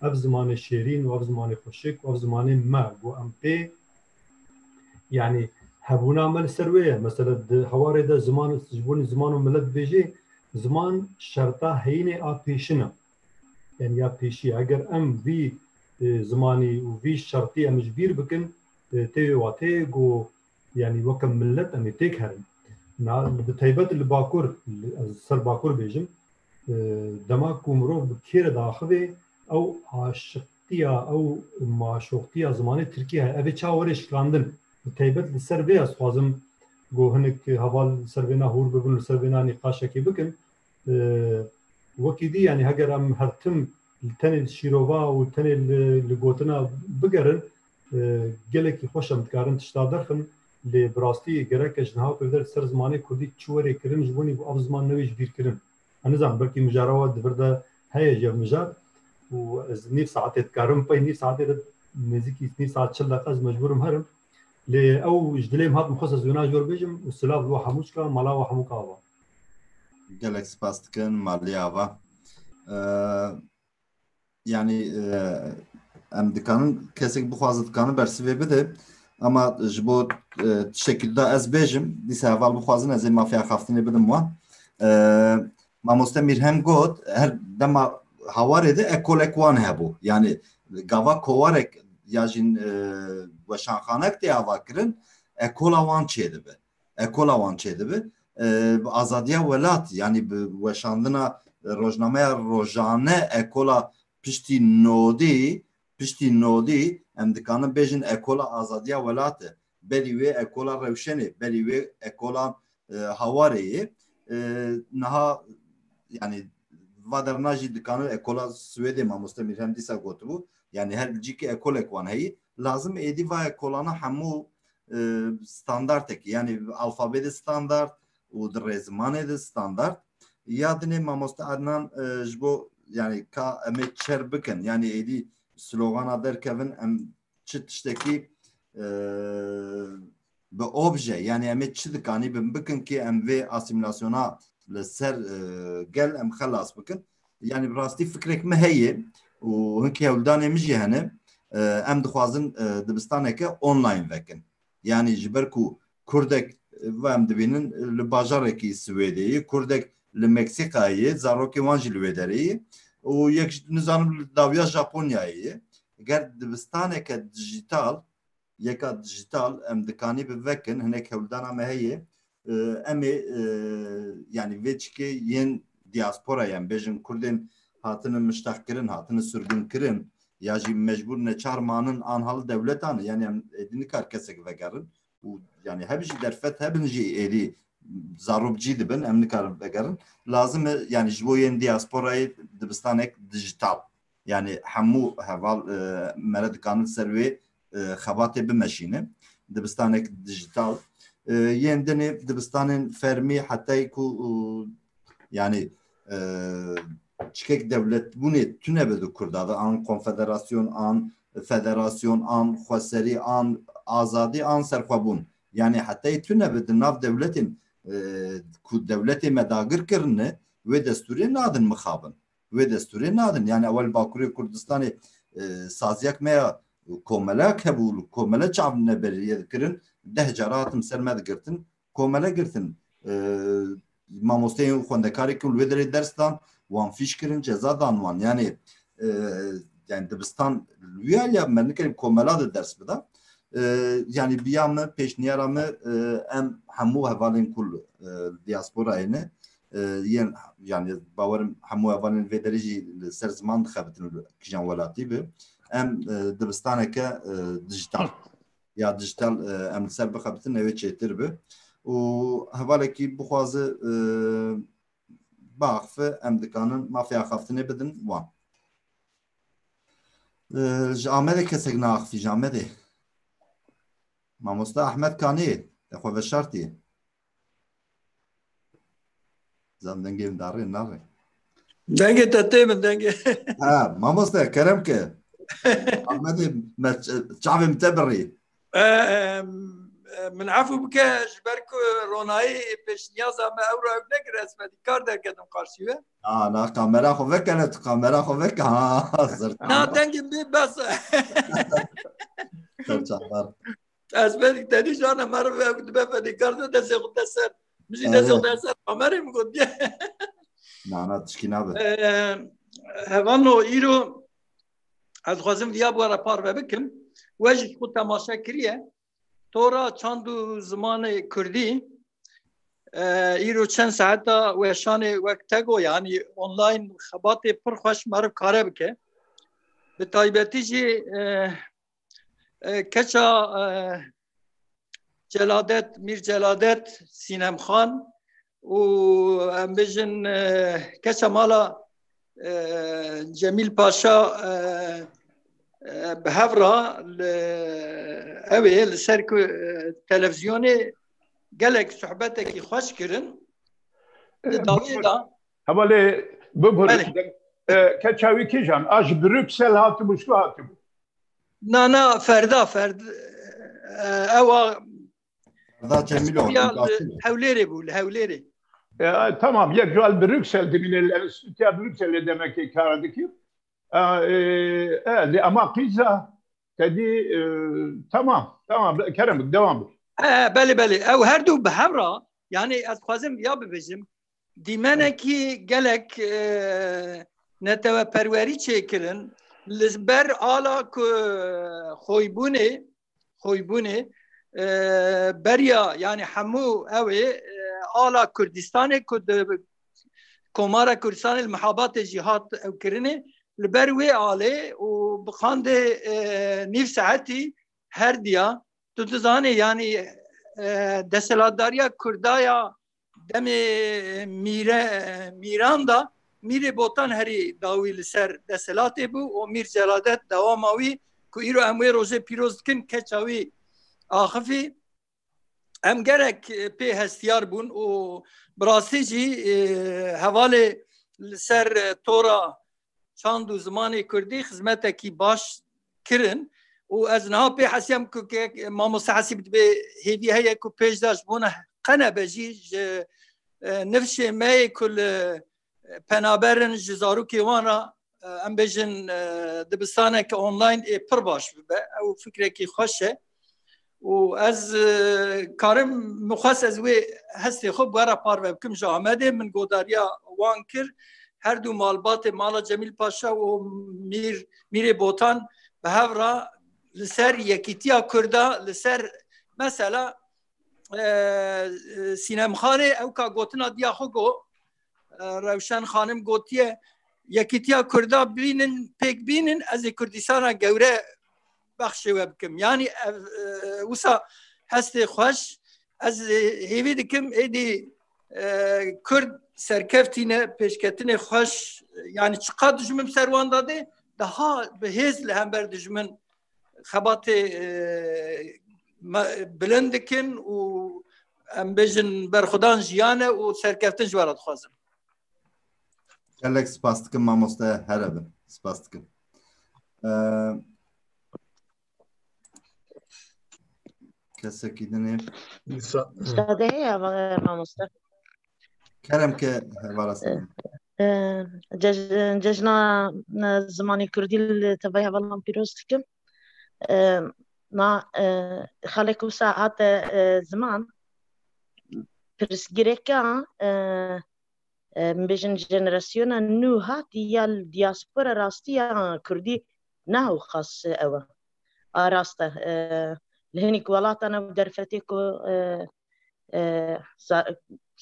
ev zimanê şêrîn û ev zimanê xweşik û ev zimanê me bo em pê Yani hebûna me li ser wê ye mesela di hewarê de ziman ji bo ziman û milet bêjê ziman şerta heyînê a pêşin e yani ya pêşî eger em vî e, zimanî û vî şertî em ji bîr bikin e, tê watê ku yani weke millet em ê têk herin bi taybet li bakur ez ser bakur bêjim e, dema ku mirov bi kêre de axivê ew aşiq Tiya ew maşoxtiya zimanê Tirkî heye. Ev ê çawa were şikandin. Bi taybet li ser vê ez xwazim ku hinek heval li ser vêna hûr bibin, li ser vêna nîqaşekê bikin. Wekî dî yanî heger em her tim li tenê li şîrova û tenê li gotina bigerin gelekî xweş em dikarin tişta derxin. Lê bi rastî gerek e ji niha pêv der li ser zimanê Kurdî çi werê kirin ji bo nî bo ev ziman newêjibîrkirin. Ez nizanim belkî mijara we di vir de heye ji mijar û ez nîv saetê dikarim pey nîv saetê de nêzîkî nîv saet çil deqa ez mecbûr im herim. Lê ew ji dilê min hat min xwest ez wêna jor bêjim û silav li we hemû çikan mala we hemû ka ava. Gelek spas dikim Maliyê ava. yanî em dikanin kesek bixwazin dikanin bersivê bide ama ji bo tiştekî da ez bêjim dîsa heval bixwazin ez ê mafeya xaftinê bidim wan mamoste mîrhem got her dema hawarê de ekolek wan hebû yanî gava kowarek ya jîn weşanxanek tê avakirin ekola wan çêdibe ekola wan çêdibi bi azadiya welat yanî bi weşandina rojnameya rojane ekola piştî nodî piştî nodî em dikanin bêjin ekola azadiya welat e belî wê ekola rewşenê belî wê ekola hawarê yê niha yanî vaderna jî dikanin ekola Swêdê mamoste Mîrhem dîsa gotibû yanî her cîkê ekolek wan heyî Lazim êdî vaya kolana hemû standartekî yanî alfabê de standart û di rêzimanê de standart ya dinê mamoste Ednan ji bo yanî ka em ê çer bikin yanî êdî slogana derkevin em çi tiştekî bi obje yanî em ê çi dikanî bin bikin kê em vê asîmîlasyona li ser gel em xelas bikin. Yanî bi rastî fikrek min heye û hinkî hewldanê min jî hene em dixwazin dibistaneke online vekin. Yanî ji ber ku kurdek va em dibînin li bajarekî Swêdê yê, kurdek li Meksîkayê yê, zarokên wan jî li wê derê yê û yek nizanim li dawiya Japonyayê yê. Ger dibistaneke dijîtal yeka dijital em dikanî bi vekin hinek hewldana me heye em ê yanî vê çikê yên diasporayê em bêjin kurdên hatinin miştexkirin hatinin surgunkirin ya jî mecbûr neçar manin an hal dewletan yanî em êdî nikar kesek vegerin û yanî heb jî derfet hebin jî êdî zarok cî dibin em nikarin vegerin lazim e yanî ji bo yên diasporayê dibistanek dijital yanî hemû heval mere dikanin ser wê xebatê bimeşînin. Dibistanek dijital yên dinê dibistanên fermî hetayî ku yanî çikek dewletbûnê tune bi di Kurda de an konfederasyon an federasyon an xweserî an azadî an serxwebûn yanî hetayî tune bi di nav dewletên ku dewletê me dagir kirine wê destûrê nadin mixabin. wê destûrê nadin. Yani ewel li Bakurê Kurdistanê saziyek me ya komelek hebû li komele çav ne beriyê dikirin. Deh cara hatim ser me digirtin. Komele girtin. Mamosteyên xwendekarê ku li wê derê ders dan wan fîş kirin ceza dan wan. Yani yani dibistan lüya ya me nikerî komela de ders bida. Yani biya me pêşniyara me em hemû hevalên ku diasporayê ne yên yanî bawer im hemû hevalên vê derê jî li ser ziman dixebitin û kijan welatî bi em dibistaneke dijital ya dijital em li ser bixebitin ew ê çêtir bi û hevalekî bixwaze biaxife em dikanin mafê axaftinê bidin wan ji Amedê kesek naaxifî ji Amedê mamosta Ehmed Kanê xwe veşartiye Zan dengê min darê naxê. Dengê te tê min dengê. Ha, mamoste kerem ke. Ahmedê me çavê min te birî. Min efû bike ji ber ku ronayî pêşniyaza me ew ra ew nekir ez me kar derketim qarşî we. Ha, na kamera xwe vekene tu kamera xwe veke ha. Na dengê min bes e. Serçavdar. Ez belki tedî jana meriv ve dibe fedîkar de destê xwe deser. Min jî destê xwe deser Amerê min got ye. Nana tişkî nabe. Hevano îro ez xwazim viya bu ara par ve bikim. We jî xwe temaşe kiriye. Tora çand û zimanê Kurdî îro çend saeta weşanê wek tego yanî online xebatê pir xweş meriv kare bike. Bi taybetî jî Keça Celadet, Mîr Celadet, Sînem Xan û em bijin keça mala Cemîl Paşa bi hev ra li ew ê li ser ku televizyonê gelek sohbetekî xweş kirin. Di dawiyê de Hema lê bibur keça wî kîjan a ji Brüksel hatibû ji ku hatibû? Na na ferda ferd ewa hewlêrê bû li hewlêrê. Tamam yek ji li Brüksel dimîne li Enstîtuya Brükselê demekê kar dikir. Lê ema qîza tedî tamam tamam kerem dewam bik. Belê belê ew her du bi hevra yanê ez xwazim ya bibêjim Dîmenekî gelek neteweperwerî çêkirin li ber ala ku xwîbûnê xwîbûnê beriya yanî hemû ew ê ala Kurdistanê ku di Komara Kurdistanê li mihabatê jî hat ew kirinê li ber wê alê û bi qandê nîv saetî herdiya tu dizanê yanî deselatdariya Kurdaya demê mîre mîran da mîrê botan herî dawî li ser desthilatê bû û mîr celadet dewama wî ku îro em wê rojê pîroz dikin keça wî axifî em gerek pê hestiyar bûn û birastî jî hevalê li ser tora çand û zimanê Kurdî xizmetekî baş kirin û ez niha pê hesiyam ku mamoste hesîb dibê hêvî heye ku pêş de ji bona qene be jî ji nifşê me yê ku li penaberin ji zarokê wan ra em bêjin dibistaneke online ê pir baş bibe ew fikrekî xweş e û ez karim min xwest ez wê hestê xwe bi we re parve bikim ji Amedê min godariya wan kir her dû malbatê mala Cemîl Paşa û Mîr Mîrê Botan bi hev re li ser yekîtiya Kurda li ser mesela Sînemxanê ew ka gotina diya xwe go Rewşen Xanim gotiye yekîtiya Kurda bînin pêk bînin ez ê Kurdîstana gewre bexşê we bikim yanî ev wisa hestê xweş ez hêvî dikim êdî kurd serkeftîne pêşketinê xweş yanî çiqa dijmin ser wan dadê daha bi hêz li hember dijmin xebatê bilind dikin û em bêjin berxudan jiyane û serkeftin ji wera dixwazin. Gelek spas dikim mamoste here bin spas dikim. Kesekî din ê. Sade heye hevara mamoste. Kerem ke hevara sade. Cejna zimanê Kurdî li tevaya hevalan pîroz dikim. Na xalek wisa hate ziman pirsgirêka Em bêjin jenerasyona nû hatî ya li dîaspora rastiya kurdî ne ewqas ew e. A rast e. Li hinîk welatan ew derfetê ku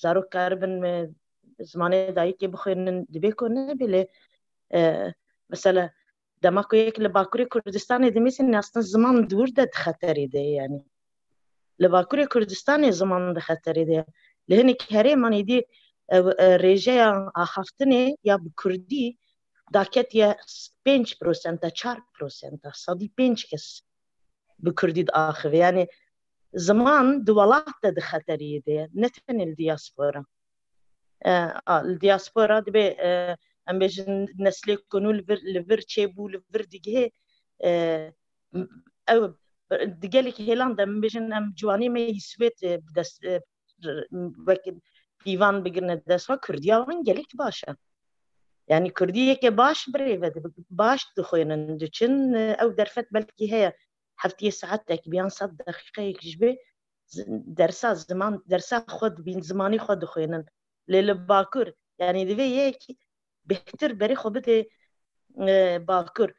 zarok dikaribin zimanê dayikê bixwînin dibê ku nebe lê mesela Dema ku yek li Bakurê Kurdistanê dimîsin nastin ziman di wir de di xeterê de ye yanî. Li Bakurê Kurdistanê ziman di xeterê de ye. Li hinek herêman êdî rêjeya axaftinê ya bi Kurdî da ketiye pênc prosenta çar prosenta sedî pênc kes bi Kurdî diaxive. Yanî ziman di welat de di xeterê de ye ne tenê li diaspora. Li diaspora dibê em bêjin neslê ku nû li vir çêbû li vir digihê ew di gelekî hêlan de min bêjin em ciwanê me yî Swêd bi dest wek pîvan bigirine di dest xwe Kurdiya wan gelek baş e. Yani Kurdî yekê baş birêve baş dixwênin diçin ew derfet belkî heye heftiyê saetek bi yan sed deqîqeyek ji bê dersa ziman dersa xwe dibîn zimanî xwe dixwênin lê li bakur yanî divê yekî bêhtir berê xwe bidê bakur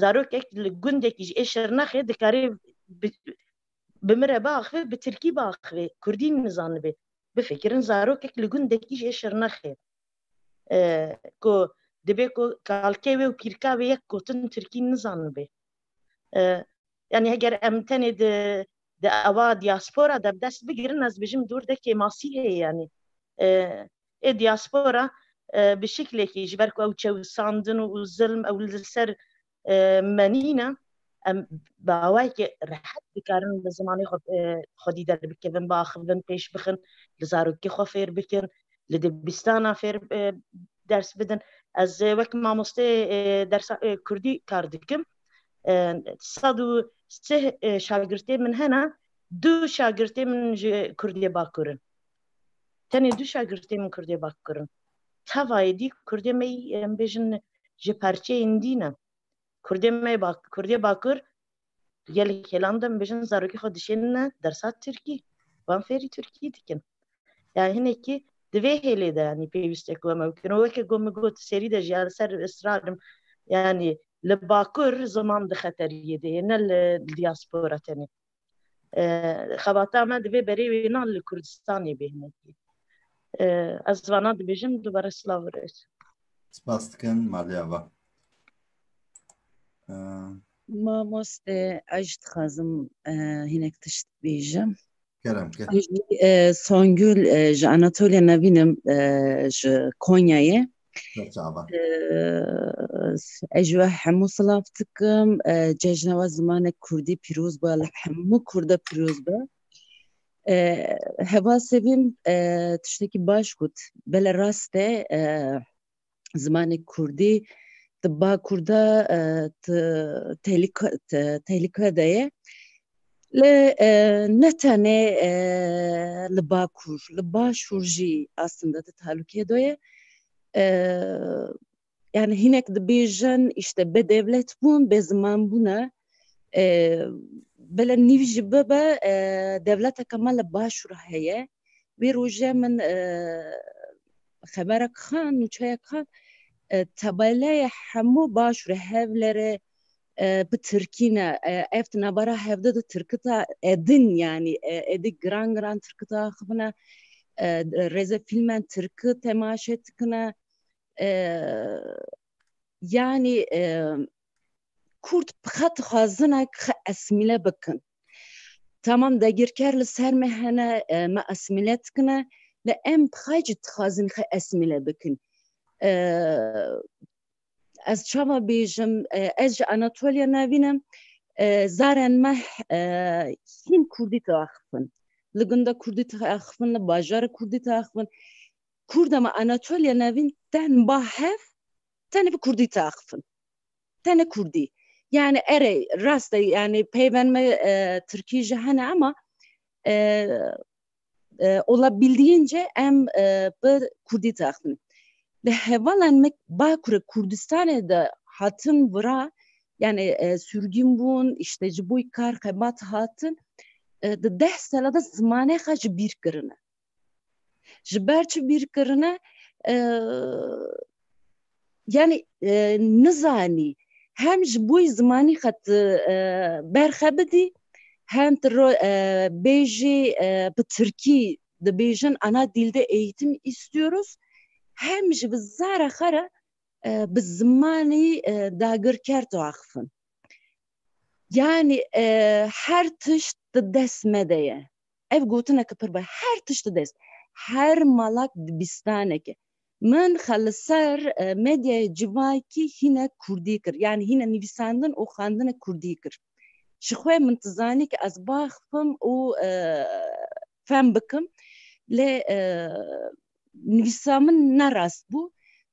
zarokek li gundekî ji ê şirnexê dikarê bi min re biaxivê bi tirkî biaxivê kurdî nizanibê bifikirin zarokek li gundekî ji ê şirnexê ku dibê ku kalkê wê û kîrka wê yek gotin tirkî nizanibê yani heger em tenê di di ewa diaspora de dest bigirin ez bijim durdekê masîhê yani ê diaspora bi şiklekî ji ber ku ew çewsandin û zilm ew li ser menîne em bi awayekê rehet dikarin li zimanê xwedî derbikevin biaxivin pêş bixin li zarokî xwe fêr bikin li dibîstana fêr ders bidin ez wek mamostê dersa kurdî kar dikim sed û sê şagirtê min hene du şagirtê min ji Kurdê Bakur in. Tenê du şagirtê min Kurdê Bakur in. Tevayê dî Kurdê me em bêjin ji perçeyên dî ne. Kurdê me Kurdê Bakur gelek hêlan de em bêjin zarokê xwe dişênine dersa Tirkî. Wan fêrî Tirkî dikin. Yani hinekî di vê hêlê de yanî pêwîst e ku em ew bikin û weke ku min got serî de jî ya li ser israrim yanî li bakur ziman di xeteriyê de yê ne li diaspora tenê xebata me divê berê wê nan li kurdistanê bê hinekî ez vana dibêjim dubare silav rêz spas dikin malê ava Mamoste ez dixwazim hinek tişt bêjim. Songül ji Anatolya Nevinim ji Konyayê. Ez ji we hemû silav dikim. Cejna we zimanek Kurdî pîroz be li hemû Kurda pîroz be. Heva Sevîm tiştekî baş got. Bele rast e zimanê kurdî di bakurda tehlike de ye li ne tenê li bakur li başûr jî aslinde di talûkê de ye yani hinek dibêjin işte be devlet bûn be ziman bûne Bila nîv jî bibe dewleteke me li başûr heye. Wê roje min xeberek xwe nûçeyek xwe tabeleyê hemû başûrê Hewlêrê bi tirkî ne. Ev di navbera hevde de tirkita edin yanî êdî giran giran tirkita axivine. Rêze fîlmen tirki temaşe dikine. Yanî Kurd bi xet xwazine xi esmîle bikin. Tamam dagirker li ser me hene me esmîle dikine li em bi xay cî dixwazin xi esmîle bikin. Ez çawa bêjim ez ji Anatolya navînim zaren me hîn Kurdî diaxifin. Li gunda Kurdî diaxifin li bajara Kurdî diaxifin. Kurda me Anatolya navîn ten ba hev tenê bi kurdî taxifin. Tenê kurdî. Yani erê rast e yani peyven me e, tirkî ji hene ama e, e, olabildiğince em e, bi kurdî taxifin. Li hevalan me Bakurê Kurdistanê de hatin vira yani e, sürgün bûn, işte ji boy kar xebat hatin. E, di deh sala de zimanê xwe ji bîr kirine. Ji ber çi bîrkirine yanî nizanî hem ji bo zimanî xet berxe bidî hem bêjî bi tirkî dibêjin ana dîlde eğitim istiyoruz hem ji bi zara xwe re bi zimanî dagirker diaxivin. Yani her tişt di dest me de ye. Ev gotineke pir baş e. Her tişt di dest her malak dibistaneke. Min xwe li ser medyayê civakî hîne kurdî kir. Yanî hîne nivîsandin û xwendina kurdî kir. Ji xwe min tu zanî ke ez baxfim û fem bikim. Lê nivîsa min ne rast bû.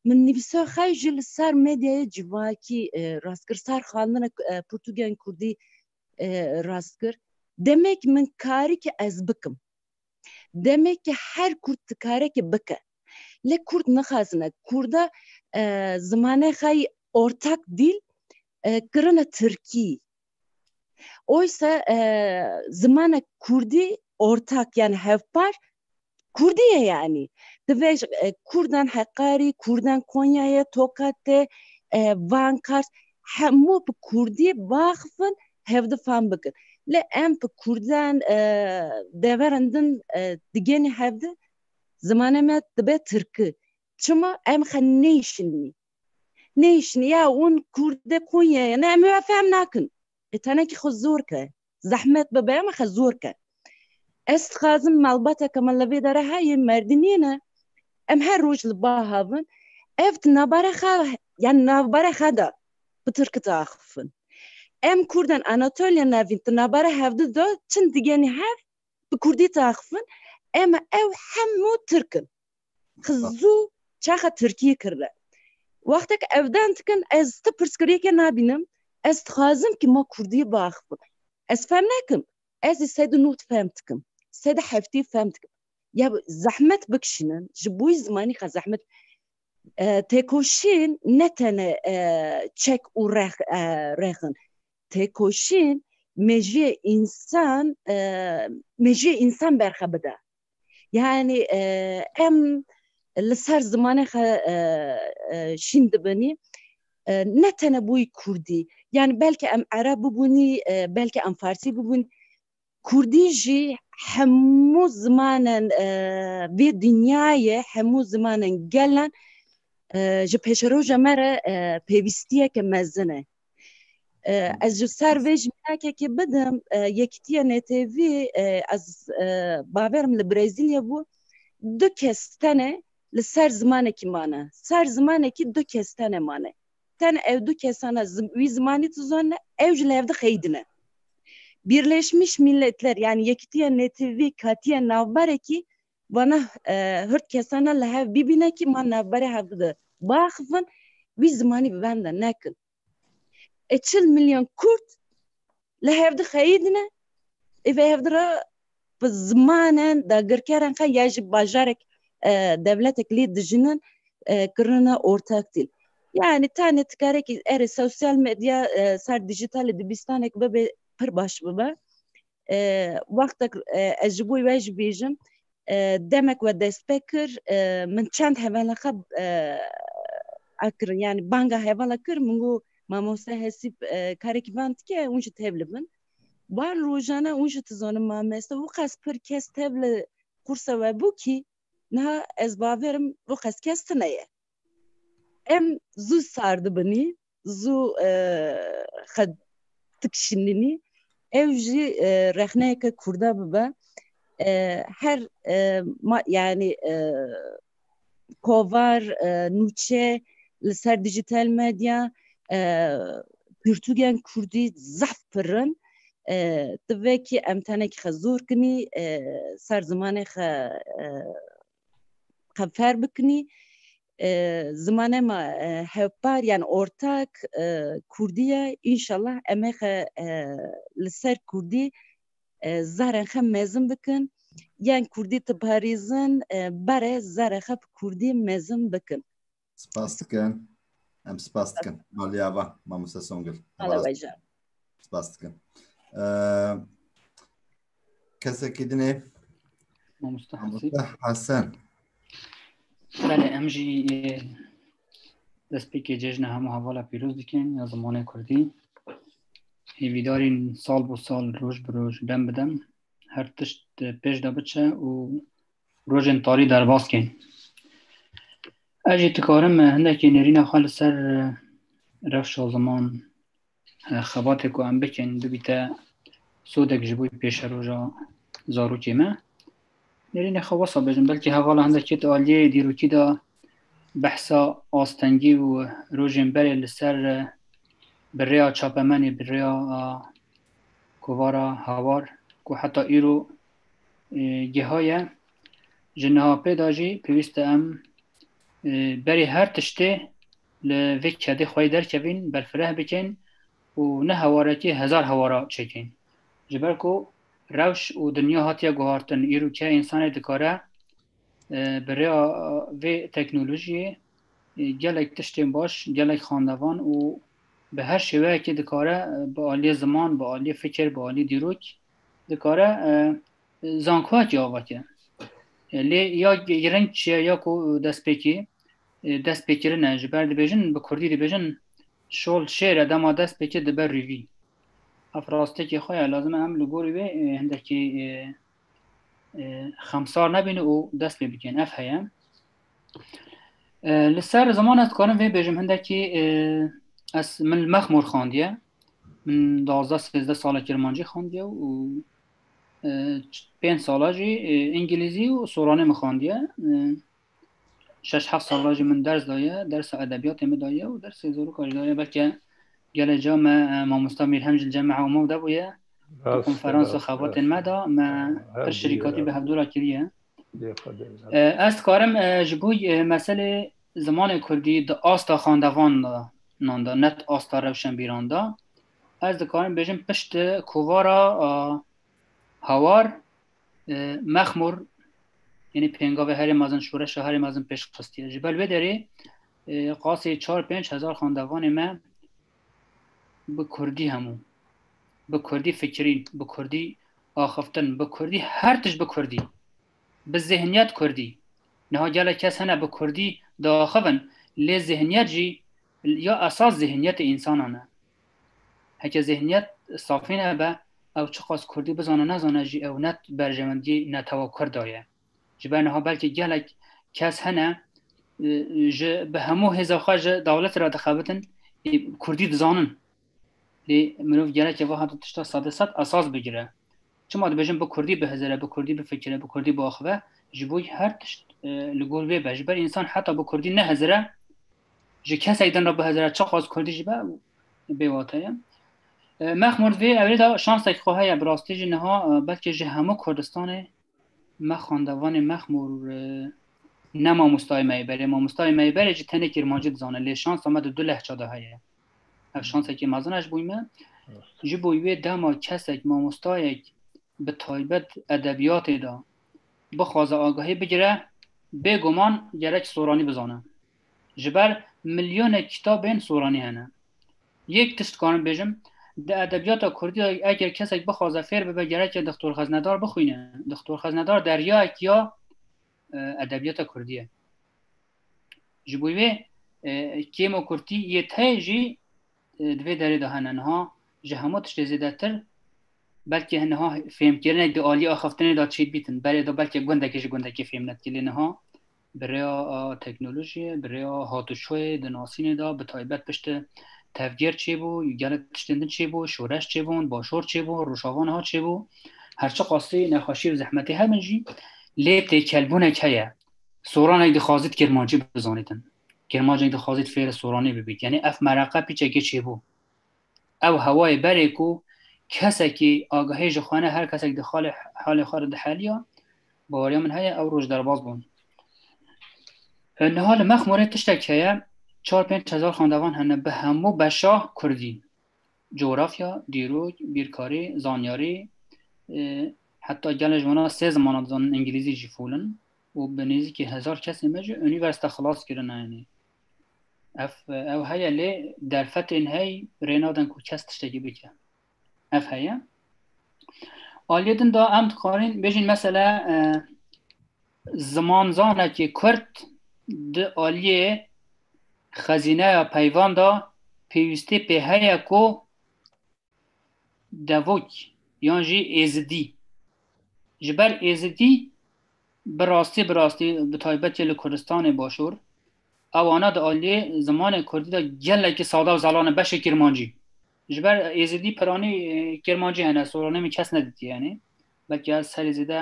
Min nivîsa xwe jî li ser medyayê civakî rast kir. Sar xwendina pirtûkên kurdî rast kir demek min karikî ez bikim demekî her kurd dikarekî bike lê kurd nixwazine kurda zimane xeyî ortak dîl kirine tirkî oysa zimane kurdî ortak yan hevpar Kurdî ye yanî. Ti vê Kurdan Heqarî, Kurdan Konyayê, Tokatê, Van Kars hemû bi Kurdî baxifin hevdifan bikin. Lê em bi Kurdan deverin din digenî hevdi zimanê me dibe Tirki. Çima em xe neyşinî. Neyşinî ya hûn Kurdê Konyayê ne em wê fem nakin. Tenekî xwe zor ke zehmet bibe em xwe zor ke. Ez dixwazim malbateke me li vê dere heye merdimiyê ne em her roj li ba havin ev di navbara xwe yan navbara xwe de bi tirkiti axifin. Em kurdan Anatoliya navîn di navbara hev di de çin digenî hev bi kurdî diaxifin em ew hemû tirk in. Xizû çaxa Tirkiyê kirve. Wextek evden dikin ez ti pirsgirêke nabînim ez dixwazim ki ma Kurdî biaxivim. Ez fehm nakim ez ê sed û nûd fehm dikim sed û heftê fehm dikim. Ya zehmet bikişînin ji bo wî zimanî qe zehmet têkoşîn ne tene çek û rex rex in. Têkoşîn mejiyê însan mejiyê însan berxe bide. Yani em li ser zimanê xwe şîn dibinî ne tene bûyî Kurdî yani belkî em Ereb bibûnî belkî em Farsî bibûn Kurdî jî hemû zimanen vê dinyayê hemû zimanen gelan ji pêşeroja me re pêwîstiyeke mezin e Ez ji ser vê ji minakekê bidim yekitiye NTV ez baverim li Brezilya bû du kes tene li ser zimanekî mane ser zimanekî du kes tene mane ten ew du kesane wî zimanî tizane ew ji li hevdi xeydine Birleşmiş Milletler yani yekitiye NTV katiye navbarekî vana hirt kesana li hev bîbîne kî ma navberê hev di biaxivin wî zimanî bi benda nekin. E çil milyon Kurd li hev di xeyîdine ê vê hev di re bi zimanen dagirkeran xwe ya ji bajarek devletek lê dijinin kirina ortaktîl. Yani tane tikarekî erê sosyal medya ser dijîtalê dibistanek bibe pir baş bibe. wextek ez ji bo we jî bêjim demek we dest pê kir min çend hevela xwe akirin yani banga hevala kir min got mamoste hesîb karekî van dike hûn jî tevli bin wan rojana hûn jî dizanim mameste û qas pir kes tevli qursa we bû kî niha ez baverim û qas kes tine ye em zû sar dibinî zû xed tik şinînî ew jî rexneyeke kurda bibe her ma yani kovar nûçe li ser dijital medya pirtûgên kurdî zehf pirin di vekî em tenekî xezor kinî ser zimanê xe xefer bikinî zimane ma hevpar yan ortak kurdî ye înşallah em ê xwe li ser kurdî zarên xwe mezin bikin yan kurdî diparîzin bare zarê xwe bi kurdî mezin bikin Spas dikim. Em spas dikim. Maliya va Mamoste Songil. Hala veja. Spas dikim. Kesekî dinê Mamoste Hesen. Belê em jî destpêkê cejna hemû hevala pîroz dikin ya zimanê Kurdî. Hêvîdarîn sal bo sal roj bi roj dem bi dem her tişt pêş de biçe û Rojên tarî derbas kên. Ez jî dikarim hindekî nêrîna xwe li ser rewşa ziman xebatê ku em bikin bibîte sodek ji bo pêşeroja zarokê me. Nêrînê xwe wesa bêjim belkî hevala hindekî di aliyê dîrokî de behsa astengî û rojên berê li ser bi rêya çapemenê bi rêya kovara hawar ku heta îro geha ye ji niha pê de jî pêwîst e em berê her tiştê li vê kedê xwe yê derkevîn berfireh bikin û ne hewarekê hezar hewara çêkin ji ber ku rewş û dinya hatiye guhartin îro ke însanê dikare bi rêya vê teknolojiyê gelek tiştên baş gelek xandevan û bi her şêweyekê dikare bi aliyê ziman bi aliyê fikir bi aliyê dîrok dikare zankoyekî ava ke. Lê ya giring çi ye ya ku destpêkî destpêkirin e ji ber dibêjin bi kurdî dibêjin şol şêr e dema destpêkê dibe rîvî. Ev rastekî xwe ye lazim e em li gorî wê hindekî xemsar nebîn û dest pê bikin. Ev heye. Li ser ziman ez dikarim vê bêjim hindekî ez min li mexmor xandiye min dazda sêzde sala kirmancî xandiye û pênc sala jî îngilîzî û soranê min xandiye şeş heft sala jî min ders daye dersa edebiyatê min daye û dersê zorûka jî daye belke gelê ca me mamosta mîr hemcil ceme hewma de bûye konferansa xebatên me da me pir şirîkatî bi hevdûra kiriye Ez dikarim ji bo meselê zimanê Kurdî di asta xandevan nan de net asta rewşenbîran de ez dikarim bêjim pişt kovara hawar mexmûr yani pêngavê herê mezin şoreşa herê mezin pêşxistiye ji ber vê derê qasê 4-5 hezar xandevanê me bi kurdî hemû bi kurdî fikirîn bi kurdî axiftin bi kurdî her tişt bi kurdî bi zihniyet kurdî niha gelek kes hene bi kurdî diaxivin lê zihniyet jî ya esas zihniyetê însanan e heke zihniyet safî nebe ew çiqas kurdî bizane nezane jî ew net berjewendî netewa kurda ye Ji ber niha belkî gelek kes hene ji bi hemû hêza xwe ji dewletê re dixebitin Kurdî dizanin. Lê mirov gerekê wiha di tişta sedê sed esas bigire. Çima dibêjin bi Kurdî bihizire, bi Kurdî bifikire, bi Kurdî biaxive, ji bo her tişt e, li gor wê be. Ji ber însan heta bi Kurdî nehizire, ji kesek din re bihizire çixwaz Kurdî jî be bêwate ye. E, Mexmûr vê evrê de şansek xwe heye bi rastî jî niha e, belkî ji hemû Kurdistanê Me xandevanê mexmûr ne mamostayê me yê berê mamostayê me yê berê jî tenê kêrmancî dizane lê şansa me di du lehça de heye ev şansekê mezin ez bûyî me ji bo wê dema kesek mamostayek bi taybet edebiyatê de bixwaze agahî bigire bêguman gerek soranî bizane Ji ber milyonek kitabên soranî hene. Yek tişt dikarim bêjim, di edebiyata kurdî de eger kesek bixwaze fêr bibe gereke Dixtor Xeznedar bixwîne. Dixtor Xeznedar deryayek ya edebiyata kurdî ye. Ji bo wê kêma kurdî yê tey jî di vê derê de hene. Niha ji hemû tiştê zêdetir belkî niha fêmkirinek di aliyê axaftinê de çêdibîtin. Berê de belkî gundekî ji gundekî fêm nedikî lê niha Bi rêya teknolojiyê, bi rêya hatûçûyê di nasînê de bi taybet piştî tevgêr çêbû, gelek tiştên din çêbû, şoreş çêbûn, başor çêbû, rojava niha çêbû. Her çi qasî nexweşî û zehmetê hebin jî lê têkelbûnek heye. Soranek dixwazît kirmancî bizanîtin. Kirmancek dixwazît fêrê soranî bibît. Yanî ev mereqe pîçekê çêbû. Ew hewayê berê ku kesekî agahî ji xwe ne her kesek di xalê halê xwe re diheliya, baweriya min heye ew roj derbas bûn. Niha li Mexmûrê tiştek heye çar pênc hezar xwendevan hene bi hemû beşa Kurdî. Cografya, dîrok, bîrkarî, zanyarî heta gelê ji wana sê zimana dizanin îngilîzî jî fûl in û bi nêzîkî hezar kesên me jî unîversîte xilas kirine. Yanî Ev, ev heye lê derfetên hey rê nadin ku kes tiştekî bike. Ev heye. Aliyê din da em dixwarin bêjin mesela e, zimanzanekî Kurd di aliyê xezîneya peyvan da pêwîstî pê heye ku Devok yan jî Êzidî. Ji ber Êzidî bi rastî bi rastî bi taybetî li Kurdistanê başûr ewana di aliyê zimanê Kurdî de gelekî sada û zalan e beşê Kirmancî. Ji ber Êzidî piranî Kirmancî hene soranê min kes nedîtiye yanî belkî ez serê zêde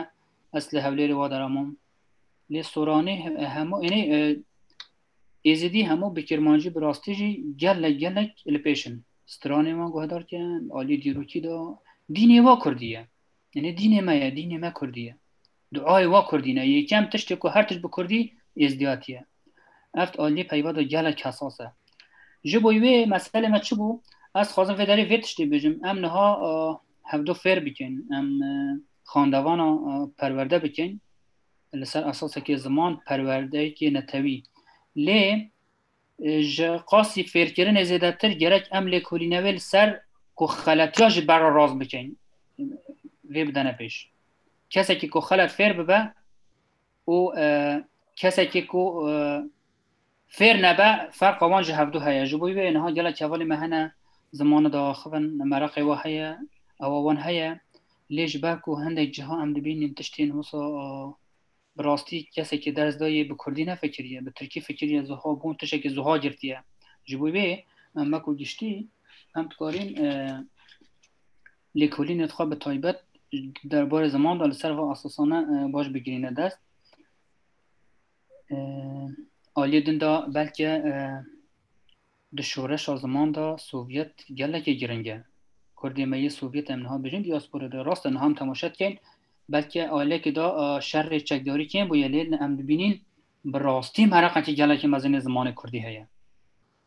ez li Hewlêrê wa deramam. Lê soranî hemû yanî Êzidî hemû bi Kirmancî bi rastî jî gelek gelek li pêş in. Stranên wan guhedar kirin, aliyê dîrokî de dînê wa Kurdî ye. Nê dînê me ye, dînê me Kurdî ye. Duayê wa Kurdî ne. Yekem tiştê ku her tişt bi Kurdî êzdiyatî ye. Ev aliyê peyva de gelek hesas e. Ji bo wê meselê me çi bû? Ez dixwazim vê derê vê tiştê bijim. Em niha hevdo fêr bikin. Em xandevana perwerde bikin. li ser esasekê ziman perwerdeyekê netewî lê ji qasî fêrkirinê zêdetir gerek em lêkolîne wê li ser ku xeletiya ji berra rast bikin vê bidene pêş kesekî ku xelet fêr bibe û kesekî ku Fêr nebe ferqa wan ji hevdu heye. Ji bo wê niha gelek hevalê me hene zimana de axivin, mereqê we heye, ewa wan heye. Lê ji ber ku hindek ciha em dibînin tiştên wisa bi rastî kesekî ders dayê bi kurdî nefekiriye, bi tirkî fikiriye ziha bûn tişekî ziha girtiye. Ji bo wê em weko giştî em dikarîn lêkolînê xwe bi taybet derbarê ziman de li ser va esasane baş bigirîne dest. Aliyê din de belke di şoreşa ziman de Sovyet gelekê giring e. Kurdê me yê Sovyet em niha bijin diaspora de rast e niha em temaşe dikin belke ailekê de şerê çekdarî kêm bûye lê em dibînin bi rastî mereqekî gelekê mezin ê zimanê Kurdî heye.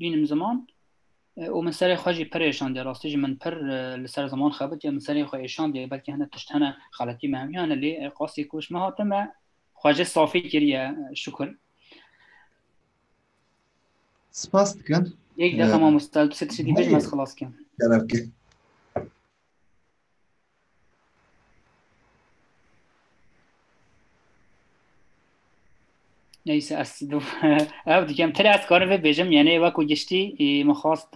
bînim ziman û min serê xwe jî pir êşandiye rastî jî min pir li ser ziman xebitiye min serê xwe êşandiye belkî hene tişt hene xeletî me hemî hene lê qasî ku ji min hate me xwe jê safî kiriye şukir Spas dikim. Yek defa mamosta tu se tiştî bêj me xelas kim. Kerevke. Neyse ez ev dikem tele ez karim vê bêjim yani eva ku giştî min xwast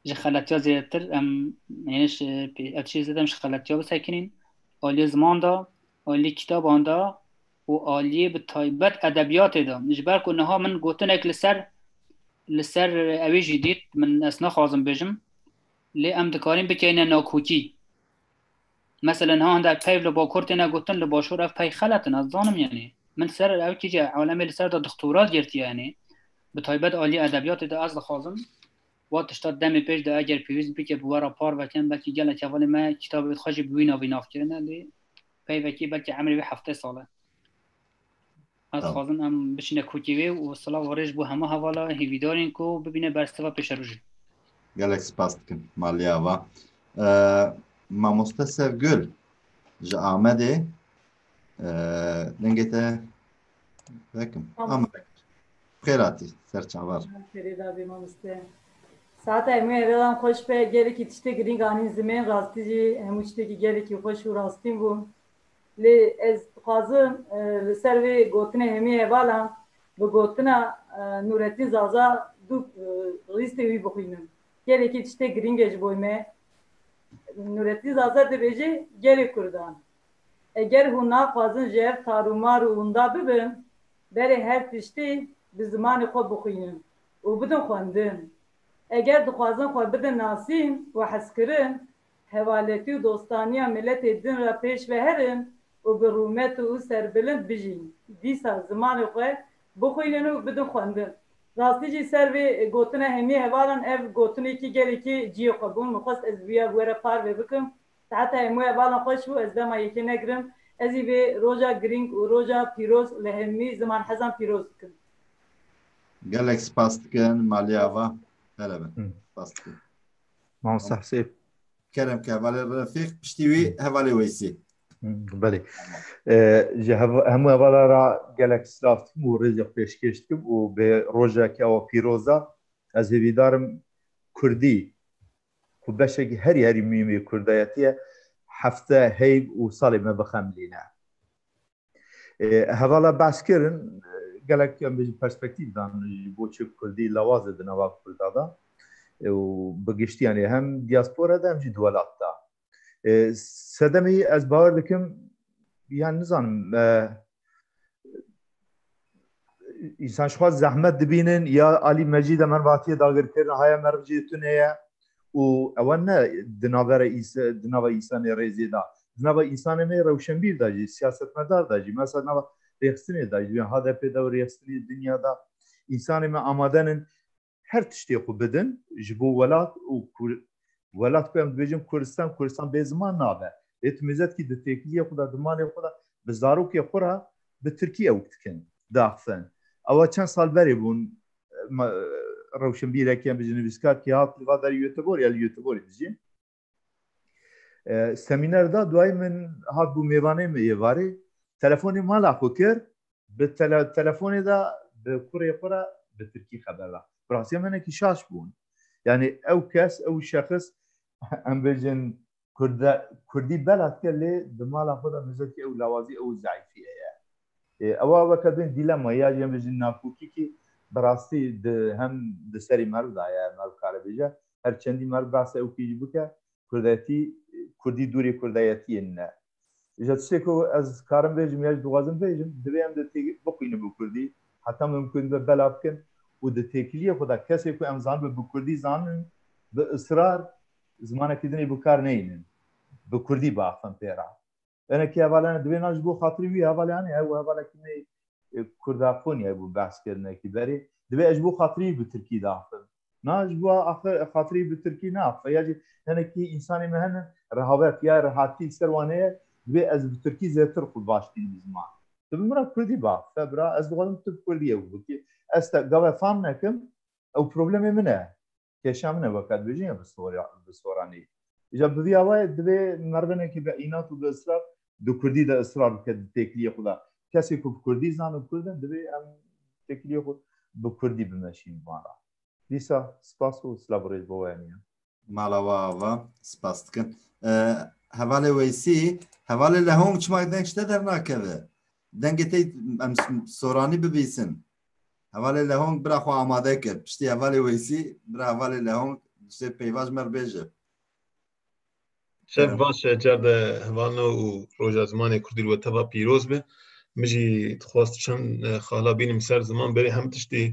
ji xelatiya zêdetir em yani ev çê zêde em ji xelatiya bisekinîn aliyê ziman da aliyê kitaban da û aliyê bi taybet edebiyatê da ji ber ku niha min gotinek li ser li ser evê jî dît min ez naxwazim bêjim Lê em dikarin bikeyne nakokî. Meselen ha hende peyv li bakor têne gotin li başûr ev pey xelet in ez dizanim yanî min ser ew kîce alemê li ser de dixtorat girtiye yanî bi taybet aliyê edebiyatê de ez dixwazim wa tişta demê pêş de eger pêwîst bike bi we re par vekin belkî gelek hevalê me kîtabê xwe jî bi wî navê nav kirine lê peyvekî belkî emrê wî heftê sal e. Ez Tamam. xwazim em biçine kotî wê û silav û rêj bo hema hevala hêvîdarên ku bibîne bersiva pêşerojê. Gelek spas dikim malê ava. Ee, Mamoste Sevgül ji Amedê ee, dengê te vekim. Amerek. Xêratî ser çavar. Ferêda bê mamoste. Saeta hemû hevelan xweş be, gelekî tiştê girîng anîn zimên, rastî jî hemû tiştekî gelekî xweş û rastîn bû. Lê ez dixwazim li ser vê gotinê hemî hevalan bi gotina Nûretîn Zaza du rîstê wî bixwînin. Gelekî tiştê girîng e ji boy me. Nûretîn Zaza dibêje Gelê Kurdan. Eger hûn naxwazin ji hev tar û mar û winda bibin, berê her tiştî bi zimanê xwe bixwînin û bidin xwendin. Eger dixwazin xwe bidin nasîn û hezkirin, Hevaletî û dostaniya miletê din re pêş ve herin û bi rûmet û serbilind bijîn. Dîsa zimanê xwe bixwînin û bidin xwendin. Rastî jî ser vê gotina hemî hevalan ev gotinekî gelekî ciyê xwe bû. Min xwest ez wîya bi we re parve bikim. Taheta hemû hevalan xweş bû. Ez dema yekê negirim. Ez jî vê roja girîng û roja pîroz li hemî zimanhezan pîroz dikim. Gelek spas dikin Maliye Ava. Pere bin. Spas dikin. Mamosta Hesê. Kerem ke hevalê Refîq piştî wî hevalê Weysî. Belê. Ji hemû hevala ra gelek silav dikim û rêzê xwe pêşkêş dikim û bi rojeke awa pîroz de ez hêvîdar im kurdî ku beşekî herî herî muhîm ê kurdayetî ye hefte heyv û salê me bixemilîne. Hevala behs kirin gelek em bêjin perspektîf dan ji bo çi kurdî lawaz e di nava kurda de û bi giştî yanî hem diaspora de hem jî di welat de. Sedemî ez bawer dikim yan nizanim me Însan ji xwe zehmet dibînin ya alî mecî de mervatiyê dagirkirin haya merv jê tune ye û ewa ne di navera di nava însanê rêzê da di nava însanê me rewşenbîr da jî siyasetmedar da jî mesa nava rêxistinê da jî HDP'ê de û rêxistinê dinya da însanê me amadenin her tiştê xwe bidin ji bo welat û welat ku em dibêjin Kurdistan Kurdistan bê ziman nabe. Lê tu mizetkî di têkiliyê xwe de di malê xwe de bi zarokê xwe re bi tirkî ewk dikin diaxivin. Ewa çend sal berê bûn rewşenbîrekî em bijî nivîskar kî hat li va berî Göteborg ya li Göteborg dijî. Semîner da duayê min hat bû mêvanê min êvarê telefonê mala xwe kir bi telefonê de bi kurê xwe re bi tirkî xeber da. Bi rastiya menekî şaş bûn. Yanî ew kes ew şexis em bêjin Kurdî bela dike lê di mala xwe de mizetî ew lawazî ew zeîfî heye. Ewa weke bên dîlema ya jî em bêjin nakokîkî bi rastî di hem di serî meriv de ye meriv kare bêje Her çendî merd behsa ew kî jî bike kurdayetî kurdî dûrê kurdayetiyê ne. Ji tiştê ku ez karim bêjim ya jî dixwazim bêjim divê em di tê bixwînin bi kurdî heta mimkun be bela bikin û di têkiliyê xwe de kesê ku em zanibin bi kurdî zanin bi israr zimanekî din ê bikar neynin bi kurdî biaxivin pê re. Ene ki hevalene divê na ji bo xatirê wî hevalê anê ew hevalekî nê kurdafonî hebû behs kirine ki berê divê ez ji bo xatirê wî bi tirkî de axivim. Na ji bo axir xatirê wî bi tirkî neaxive ya jî hinekî însanê me hene rehavet ya rehatî li ser wan heye divê ez bi tirkî zêtir xwe baş bînim bi ziman. Tu bi min re kurdî biaxife bira ez dixwazim tu bi kurdî ew bikî ez te gave fam nekim ew problemê min e. kêşa min e weke dibêjin ya bi soranî. Îja bi vî awayê divê merdenekî bi înat û bi israr di kurdî de israr bike di têkiliyê xwe de. Kesê ku bi kurdî zan û kurd in divê em têkiliyê xwe bi kurdî bimeşîn van re. Dîsa spas û silav û rêz bo we hemîyan. Mala we ava, spas dikin. Hevalê Weysî, hevalê Lehong çima deng ji te dernakeve? Dengê te em soranî bibîsin. Hevalê Lehong bira xwe amade kir. Piştî hevalê Weysî bira hevalê Lehong diştê peyvaj me bêje. Şev baş e car de hevalno û roja zimanê kurdî li we teva pîroz be. Min jî dixwast çend xala bînim ser ziman berê hem tiştî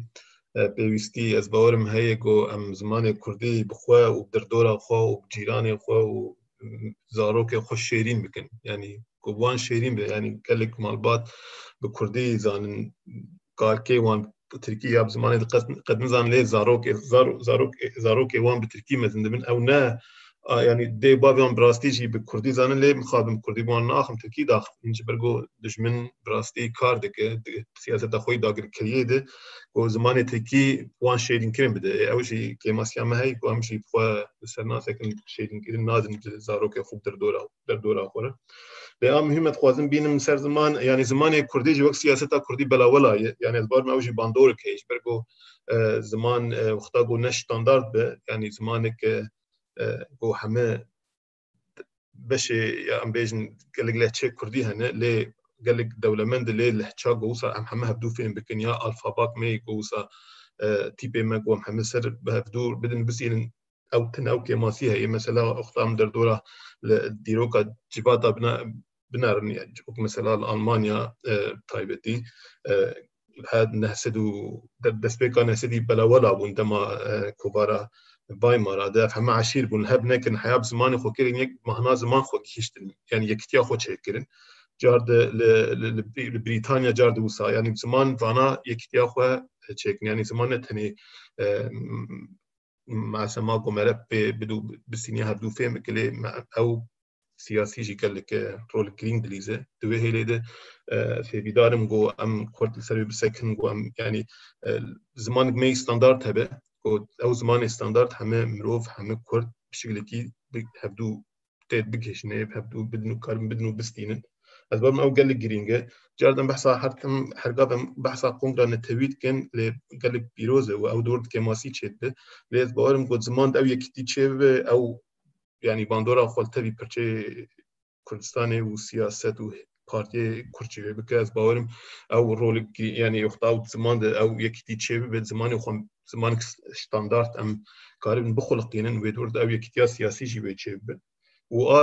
pêwîstî ez bawerim heye ku em zimanê kurdî bi xwe û bi derdora xwe û bi cîranê xwe û zarokên xwe şêrîn bikin yanî ku wan şêrîn be yanî gelek malbat bi kurdî zanin karkê wan bi tirkî ya bi zimanê qed nizan lê zarokê zarokê zarokê wan bi tirkî mezin dibin ew ne yanî dê bavê wan bi rastî jî bi kurdî zanin lê mixabim kurdî wan naxim tirkî daxim min ji ber ku dijmin bi rastî kar dike siyaseta xwe yî dagirkeriyê de ku zimanê Tirkî wan şêrînkirin bide. Ew jî kêmasiya me heye ku em jî bi xwe bi ser nasekin şêrînkirin nadin ji zarokê xwe derdora derdora xwe re. Lê a muhîm e dixwazim bînim ser ziman yanî zimanê Kurdî jî wek siyaseta Kurdî belawela ye. Yanî ez barma ew jî bandorik heye ji ber ku ziman wexta ku ne standard be yanî zimanek ku heme beşê ya em bêjin gelek lehçê Kurdî hene lê gelek dewlemend lê lehça ku wisa em heme hevdû fêm bikin ya alfabak me ku wisa e, tîpê me ku em heme ser bi hevdû bidin bisînin ew tine ew kêmasî heye mesela oxtam derdora li dîroka civata bina binerimiye ji bo ku mesela li Almanya taybetî her neh sed û destpêka neh sedî belewela bûn dema kovara Weimara de heme eşîr bûn hev nekin heya bi zimanê xwe kirin yek mahna ziman xwe gihîştin yani yekitiya xwe çêkirin car de li Brîtanya car de wisa yani ziman vana yekitiya xwe çêkin yani ziman ne tenê masema ku mere pê bidû bisînî hevdû fêm bikilê ew siyasî jî gelekî rol girîng dilîze. Di wê hêlê de fêvîdar im ku em xurt li ser wê bisekin ku em yanî zimanek me yî standard hebe ku ew zimanê standard heme mirov heme kurd bi şekilekî hevdû tê bikişîne hevdû bidin û karin bidin û bistînin. Ez bar ew gelek girîng e. Car dem behsa her tim hergav em behsa kongra netewî dikin lê gelek pîroz e û ew dor di kemasî çêdibe. Lê ez bawerim ku ziman de ew yekîtî çêbibe ew yani bandora xwe li tevî pirçeyê Kurdistanê û siyaset û partiyê Kurd jî vê bike ez bawerim ew rolekî yani yoxta ew ziman de ew yekîtî çê bibe zimanê xwe zimanek standart em karibin bixuliqînin wê dûr de ew yekîtiya siyasî jî vê çê bibe û a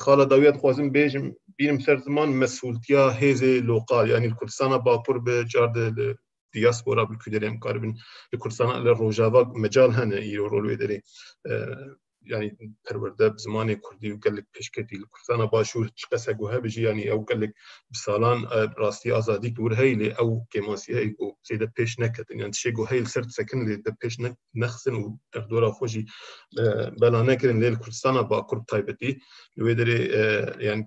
xala dawiya dixwazim bêjim bînim ser ziman mesultiya hêzê loqal yani li Kurdistana bakur bi car de li diaspora bi kû derê em karibin li Kurdistana li rojava mecal hene îro rol wê derê yani perwerde bi zimanê Kurdî û gelek pêşketî li Kurdistana başûr çi qese ku hebe jî yanî ew gelek bi salan rastî azadî li wir heyî lê ew kêmasî heyî ku zêde pêş neketin yan tişê ku heyî li ser sekin lê de pêş nexistin û derdora xwe jî bela nekirin lê li Kurdistana bakur taybetî li wê derê yani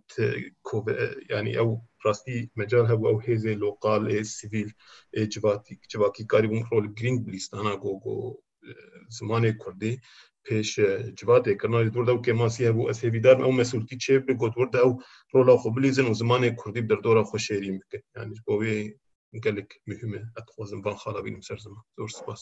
yani ew rastî mecal hebû ew hêzên loqal ê sivîl ê civatî civakî karî bûn rol girîng bi lîstana ku ku zimanê kurdî pêş civatê kirina lê dûr de ew kêmasî hebû ez hêvîdar ew mesûltî çê bike ku dûr de ew rola xwe bilîzin û zimanê kurdî bi derdora xwe şêrîn bikin yanî ji bo wê gelek muhîm e ez dixwazim van xala bînim ser ziman zor spas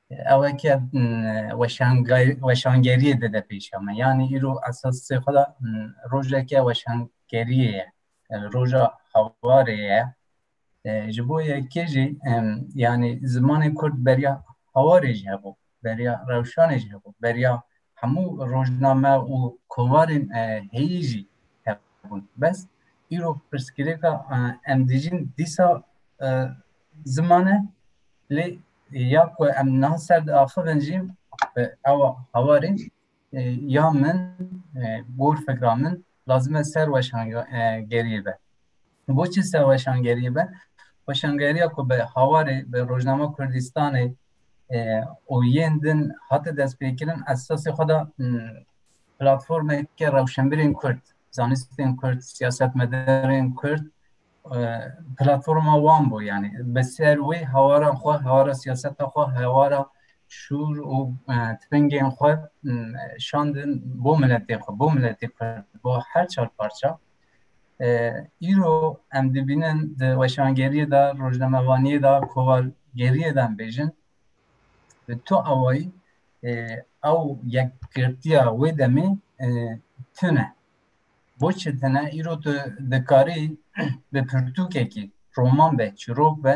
Ewe ke weşangeriyê dide pêşa me. Yanî îro esasê xwe de rojeke weşangeriyê ye. Roja hawarê ye. Ji bo yekê jî yanî zimanê kurd beriya hawarê jî hebû, beriya rewşanê jî hebû, beriya hemû rojname û kovarên heyî jî hebûn. Bes îro pirsgirêka em dijîn dîsa ziman e lê ya ku em niha ser diaxivin jî ewa hawarî ya min gor fikra min lazim e ser weşangeriyê be. Boçî ser weşangeriyê be? Weşangeriya ku bi hawarê bi Rojnama Kurdistanê û yên din hate destpêkirin esasê xwe da platformeke rewşenbirên Kurd, zanistên Kurd, siyasetmedarên Kurd platforma wan bû yanî bi ser wê hewaran xwe hewara siyaseta xwe hewara şûr û tifingên xwe şandin bo miletê xwe bo miletê kurd bo her çar parça îro em dibînin di weşangeriyê de rojnamevaniyê de kovargeriyê de em bêjin bi tu awayî ew yekgirtiya wê demê tune Boçi tene îro tu dikarî bi pirtûkekî roman be, çîrok be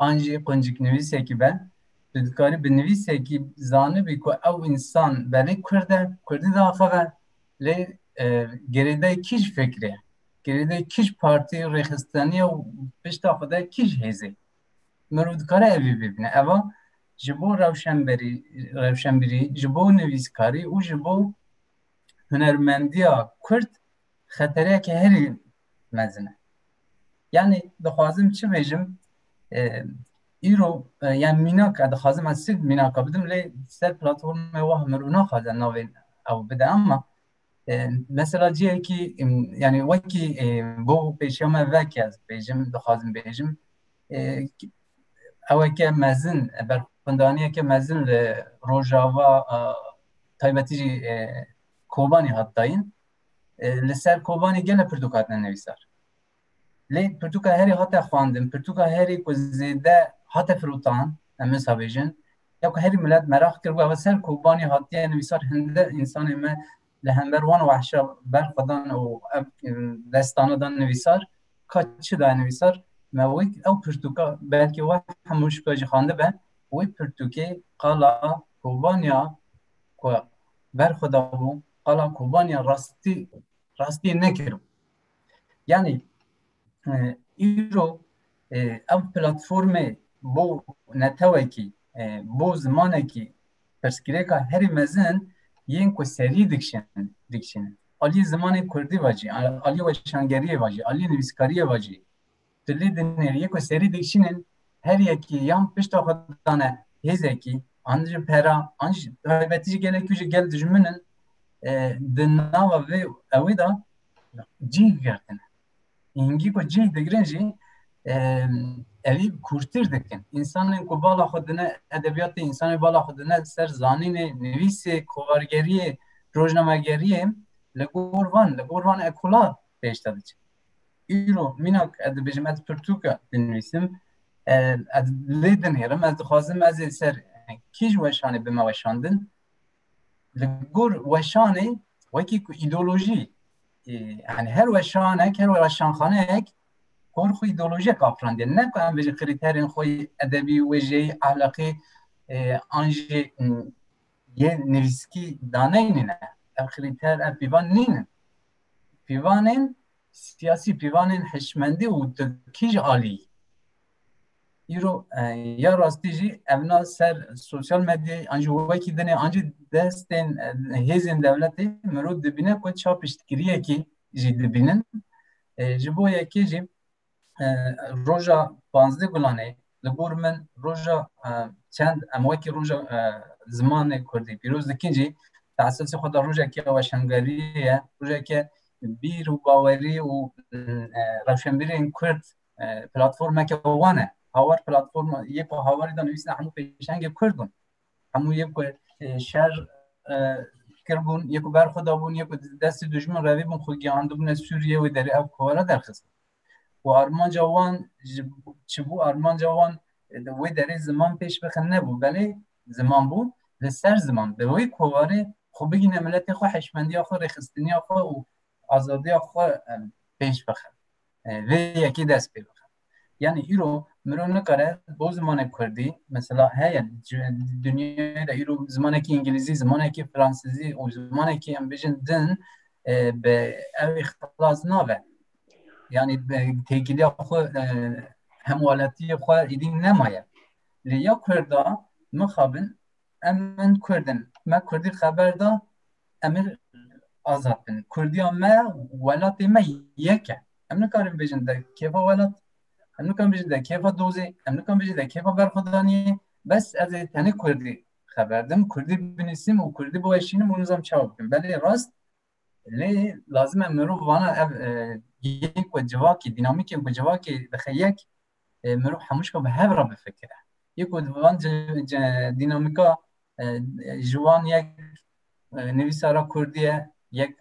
an jî qunciknivîsekî be tu dikarî bi nivîsekî zanibî ku ew însan belê kurd e, kurdî daxive lê e, gerêdayê kî ji fikrê, gerêdayê kî ji partî rêxisteniya û pişta xwe de kî ji hêzê. Mirov dikare evî bibîne. Eva ji bo rewşenberî, rewşenbirî, ji bo nivîskarî û ji bo hunermendiya Kurd xetereyeke herî mezin e. Yanî dixwazim çi bêjim îro yan mînaka dixwazim ez sîv mînaka bidim lê ser platformê wah mir û naxwazin navê ew bide ama mesela ciyekî yanî wekî bo pêşiya me veke ez bêjim dixwazim bêjim eweke mezin berxwendaniyeke mezin li Rojava taybetî jî Kobanî hat dayîn. Li ser Kobanî gele pirtûk hatine nivîsar. Lê pirtûka herî hate xwendin, pirtûka herî ku zêde hate firotan, em wisa bêjin, ya ku herî milet meraq kir bû ew ser Kobanî hatiye nivîsar hinde însanê me li hember wan wahşa berxwe dan û ev destana dan nivîsar ka çi daye nivîsar me wek ew pirtûka belkî we hemû şika jî xandibe wê pirtûkê qala Kobaniya ku berxwe dabû qala Kobaniya rastî rastî nekiribû yanî îro ev platformê bo netewekî bo zimanekî pirsgirêka herî mezin yên ku serî dikişin dikişin aliyê zimanê kurdî ve jî aliyê weşangeriyê ve jî aliyê nivîskariyê ve jî tu lê dinêrî yê ku serî dikişînin her yekî yan pişta xwe dane hêzekî an ji pera an ji taybetî ji gelekî ji gel dijmin in di nava vê ewê de cîh girtine Hingî ku cih digirin jî evî kûrtir dikin. Însanên ku bala xwe dine edebiyatê, însanê bala xwe dine ser zanînê, nivîsê, kovargeriyê, rojnamegeriyê li gor van, li gor van ekula pêşde diçe. Îro mînak ez dibêjim ez pirtûka dinivîsim, ez lê dinêrim, ez dixwazim ez ê ser kîj weşanê bime weşandin. Li gor weşanê wekî ku îdeolojî yani her weşanek her weşanxanek hor xwe ideolojik afirandê ne ku em bêjî krîterên xwe edebî wêjeyî ehlaqî an jî yê nivîskî daneyne ne ev krîter ev pîvan nînin pîvanên siyasî pîvanên hişmendî û tu kî ji alî Îro ya rastî jî ev na ser sosyal medyayê an jî wekî dinê an jî destên hêzên dewletê mirov dibîne ku ça piştgiriyekî jî dibînin. Ji bo yekê jî roja panzdeh gulanê li gor min roja çend em wekî roja zimanê Kurdî pîroz dikin jî teesasê xwe da rojeke weşangeriyê ye, rojeke bîr û bawerî û rewşenbîrên Kurd platformeke wan e hawar platform yê ku hawarî de nivîsine hemû pêşengê kurd bûn hemû yê ku şer kirbûn yê ku ber xwe dabûn yê ku destê dijmin revî bûn xwe giyandibûne Sûriyê wê derê ev kovara derxist û armanca wan çi bû armanca wan wê derê ziman pêş bixin nebû belê ziman bû li ser ziman bi wê kovarê xwe bigîne miletê xwe heşmendiya xwe rêxistiniya xwe û azadiya xwe pêş bixin vê yekê dest pê bixe. Yani îro mirov nikare bo zimanê Kurdî mesela heye dinyayê de îro zimanekî Îngilîzî, zimanekî Fransizî û zimanekî em bijin din bi ewê xilas nabe. Yani têkiliya xwe hemwaletiyê xwe êdî nemaye. Lê ya Kurda mixabin Em min Kurd in. Me Kurdî xeber da em ê azad bin. Kurdiya me welatê me yek e. Em nikarin bêjin de kêfa welat, em nikarin bêjin de kêfa dozê, em nikarin bêjin de kêfa berxwedaniyê. Bes ez ê tenê Kurdî xeber dim, Kurdî binivîsim û Kurdî biweşînim û nizam çawa bikim. Belê rast lê lazim e mirov vana ev yek ku civakî dînamîkê ku civakê dixe yek mirov hemû şka bi hev re bifikire yek ku van dînamîka ji wan yek nivîsara kurdî ye yek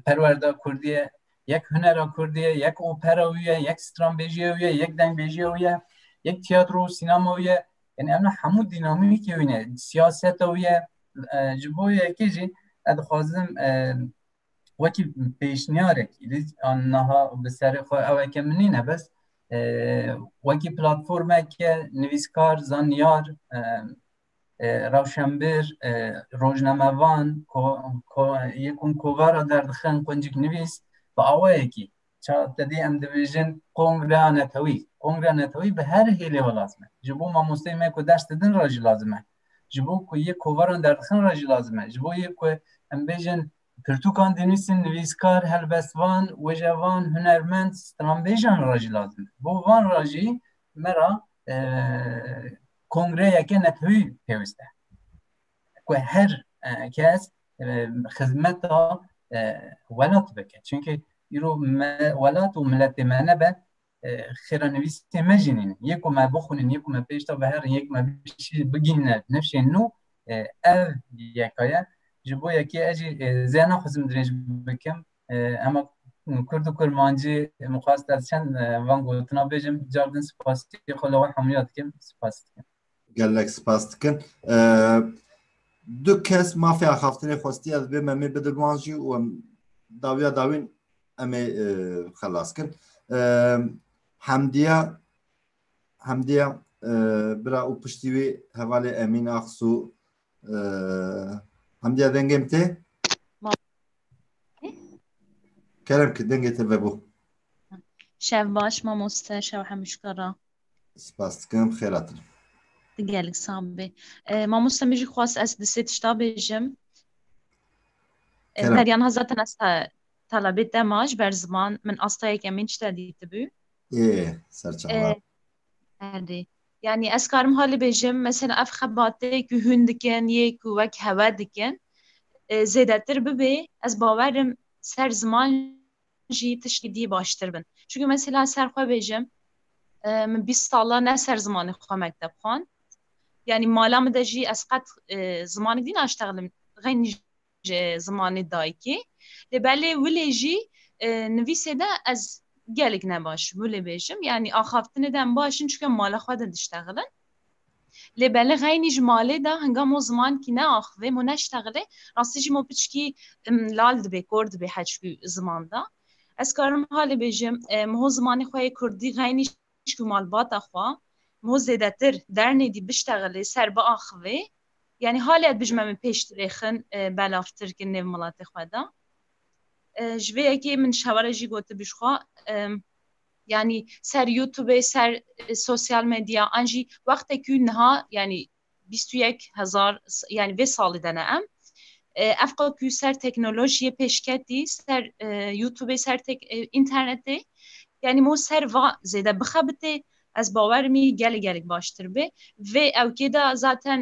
perwerda kurdî ye yek hunera kurdî ye yek opera wî ye yek stranbêjiya wî ye yek dengbêjiya wî ye yek tiyatro û sînema wî ye yani em hemû dînamîkê wî ne siyaseta wî ye ji bo yekê jî ez dixwazim wekî pêşniyarek an naha bi serê xwe eweke min nîne bes wekî platformeke nivîskar zanyar rewşenbir rojnamevan yekun kovara derdixin quncik nivîs bi awayekî tedê em dibêjin kongre netewî kongre netewî bi her hêlê ve lazim e ji bo mamosteyê me ku ders didin re jî lazim e ji bo ku yê kovaran derdixin re jî lazim e. Ji bo yê ku em bêjin pirtûkan dinivîsin, nivîskar, helbestvan, wêjevan, hunermend, stranbêjan re jî lazim e. Bo van re jî me ra kongreyeke netewî pêwîst e. Ku her kes xizmeta welat bike. Çimkî îro welat û miletê me nebe xêranivîsê me jî nîne yê ku me bixwînin yê ku me pêş de biherin yê ku me bigîne nifşên nû ev yeka ye ji bo yekê ez jî zêya naxwazim dirêj bikim hema kurd û kurmancî mixwast ez çend van gotina bêjim car din spasî xwe li we hemûya dikim spas dikim Gelek spas dikin. Du kes mafê axaftinê xwestiye divê me mê bidin wan jî û em dawiya dawîn em ê xelas kin. Hemdiya Hemdiya bira û piştî wî hevalê Emîn Axsû Hamdiya dengê min tê? Kerem ki dengê te vebû. Şev baş mamoste şev hemûşka ra. Spas dikim xêratin. Di gelek sab bê. E, mamoste min jî xwast ez di sê tişta bêjim. E, Kerem. Deryan ha zaten ez te talebê te ma ji ber ziman min astayeke min tişta dîtibû. Ê serçe E, Erê. Yanî ez karim halê bêjim mesela ev xebatê ku hûn dikin yê ku wek hewe dikin zêdetir bibê ez bawerim ser ziman jî tiştî dî baştir bin. Çunke mesela ser xwe bêjim min bîst sala ne ser zimanê xwe mekteb xwand yanî mala min de jî ez qet zimanê dî naştexlim xeynî ji zimanê dayikê lê belê wilê jî nivîsê de ez gelek ne baş bû lê bêjim yanî axaftinê de em baş in çike mala xwe de diştexilin lê belê xeynî ji malê de hinga mo zimankî ne axivê mo neştexilê rastî jî mo piçkî lal dibê kor dibê heçkû ziman da ez karim halê bêjim mo zimanê xwe yê kurdî xeynî mişk û malbata xwe mo zêdetir dernêdî biştexilê ser biaxivê yanî halê ev dijme min pêş dirêxin belavtir kin nêv miletê xwe de ji vê yekê min şeware jî gotibû ji xwe yanî ser youtubê ser sosyal medya an jî wextekî niha yanî bîst û yek hezar yanî vê salî de ne em ev qe ku ser teknolojiyê pêşketî ser YouTubeê ser internetê yanî mo ser va zêde bixebitê ez bawerim î gelê gelek baştir bê vê ewkê de zaten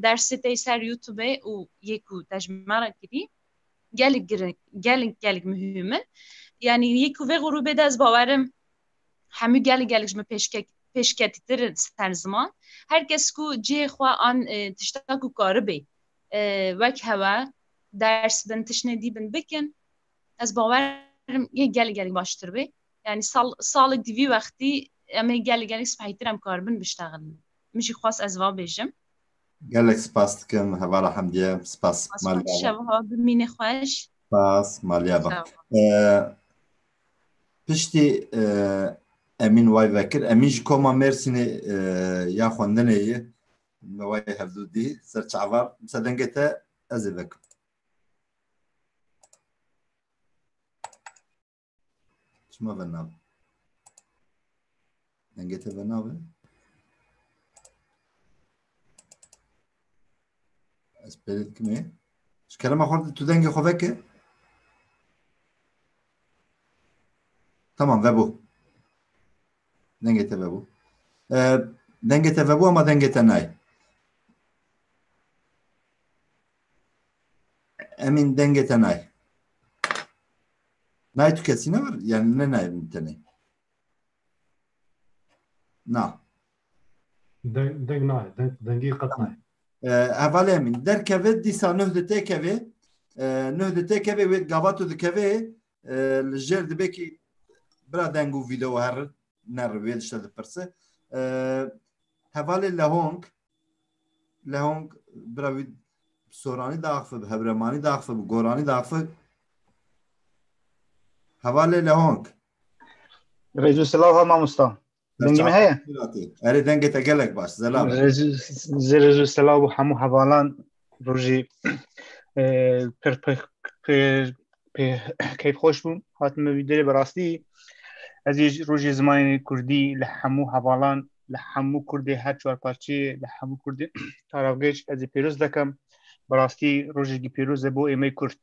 dersê tê ser YouTubeê û yê ku te ji me re kirî gelek gelek gelek muhîm in yanî yê ku vê grûbê de ez bawerim hemû gelek gelek ji min pêşkek pêşketîtir in ser ziman her kes ku cihê xwe an tişta ku karibê wek hewe ders bin tiştnê dî bin bikin ez bawer yê gelek gelek baştir bê yani sal salek dî vî wextî em ê gelek gelek spehîtir em karibin biştexilin min jî xwest ez va bêjim gelek spas dikim hevara hemdiye spas maliya bimîne xweş spas maliya ba Piştî Emîn way vekir. Emîn ji koma Mêrsînê ya xwendinê ye. Me way hevdû dî ser çavar. Misa dengê te ez ê vekim. Çima venab? Dengê te berna be. Ez pêrê dikimê. Ji kerema xwe tu dengê xwe veke. Tamam vebû. Dengê te vebû. Ee, Dengê te vebû ama dengê te nayê. Emîn dengê te nayê. Nayê tu kesî ne var? Yani ne nayê min tenê. Na. Deng, deng nayê. Deng, dengî qet nayê. Hevalê min. Derkeve dîsa nuh di têkevê. Nuh di têkevê wê gava tu dikevê li jêr dibê kî bira deng û vîdeo her neri wê dişte dipirse. Hevalê lehong lehong bira wî soranî daxfi bi hewremanî daxfi bi goranî daxfi. Hevalê lehong. Rêzû silav ha mamosta. Dengê me heye? Erê dengê te gelek baş. Zelal. Rêzû silav û hemû hevalan rojî pir pê keyf xweş bû hatin me vîdyoyê bi rastî ez ê rojê zimanê kurdî li hemû hevalan li hemû kurdê her çar parçeyê li hemû kurdê taravgêj ez ê pêroz dikim bi rastî rojekî pêroz e bo êmey kurd.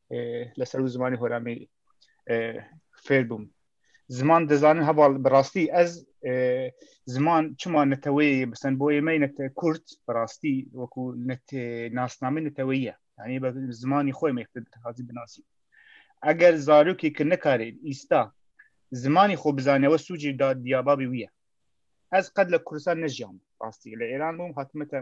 li ser wî zimanê Horamî fêr bûm. Ziman dizanin heval bi rastî ez ziman çima neteweyê bi sen boyê me net kurt bi rastî wekû net nasnamê neteweyî ye. Yanî be zimanî xwe me hazî binasî. Eger zarokê ki nikarê îsta zimanî xwe bizane we sûcî da diyababî wî ye. Ez qed li Kurdistan nejiyam rastî li Êran bûm hatime te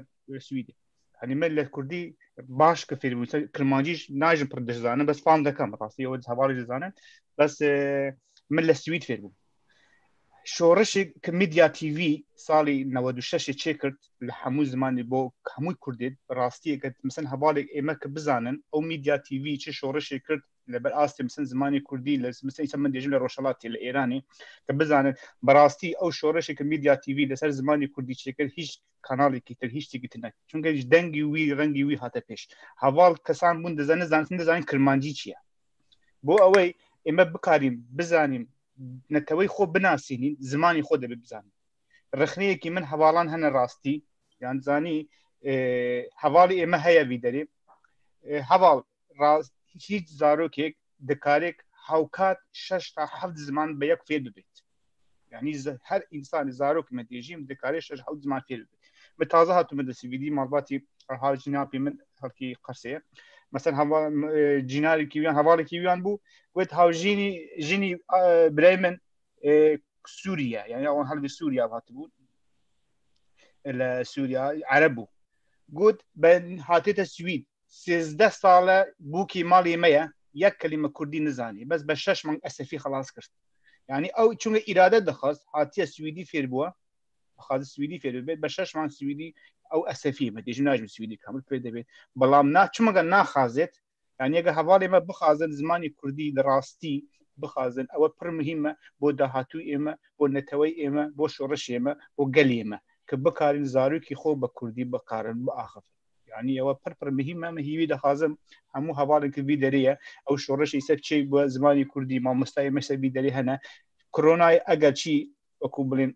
Swîdê. Hani me li Kurdî baş ki fêr bû Kirmancî najin pir dizanin bes fam dekem rastî ew hevalê dizanin bes min li Swîd fêr bûm. Şorişê ki Media TV salî 96 çê kir li hemû zimanî bo hemû Kurdê rastiyê ke misin hevalê ême ki bizanin ew Media TV çi şorişê kir li ber astê misin zimanê Kurdî li misin îsa min dêjin li Rojhelatê li Êranê te bizanin bi rastî ew şoreşê ke Media TV li ser zimanê Kurdî çêkir hîç kanalekî tir hîç têkî tir nekir çunke ji dengî wî rengî wî hate pêş heval kesan bûn dizane zanîn dizanîn kirmancî çi ye bo ew ê me bikarîn bizanîn neteweyê xwe binasînîn zimanê xwe dibê bizanîn rexneyekî min hevalan hene rastî yan zanî hevalê ême heye vî derê heval rast hiç zarokek dikarek hewkat şeş ta heft ziman bi yek fêr bibêt. Yani her insan zarok me dê jî dikarê şeş hewt ziman fêr bibêt. Min taze hatu min destî vîdî malbatî ha cîna pê min xelkî qersê ye. Mesela hava cînarêkî wiyan hevalekî wiyan bû wet haw jînî jînî birey min Sûriye yani wan helbî Sûriye hatibû li Sûriye Ereb bû. Got ben hatê te Swîd sêzdeh sal e bûkî malê me ye, yek kelîme kurdî nizanî, bes be şeş mang esefî xelas kir. Yanî ew çunge îrade dixwest, hatiye swîdî fêr bûye, dixwaze swîdî fêr bibe, be şeş mang swîdî ew esefî me dêjim najim swîdî kamil pê de bê. Belam na çima ge naxazêt, yanî eger hevalê me bixazin zimanê kurdî li rastî bixazin ew pir muhîm e bo dahatûyê me, bo neteweyê me, bo şoreşê me, bo gelê me ki bikarîn zarokî xwe bi kurdî bikarin biaxivin. yani ewa pir pir mihîm em hîvî dixwazim hemû hevalên ki vî derê ye ew şoreşê ser çê bi zimanê kurdî mamostayê me ser vî derê hene koronayê eger çî wekû bilên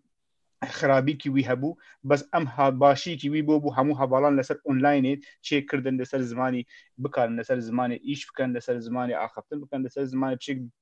xirabîkî wî hebû bes em ha başîkî wî bû bû hemû hevalan li ser onlaynê çê kirdin li ser zimanî bikarin li ser zimanê îş bikin li ser zimanê axiftin bikin li ser zimanê çêk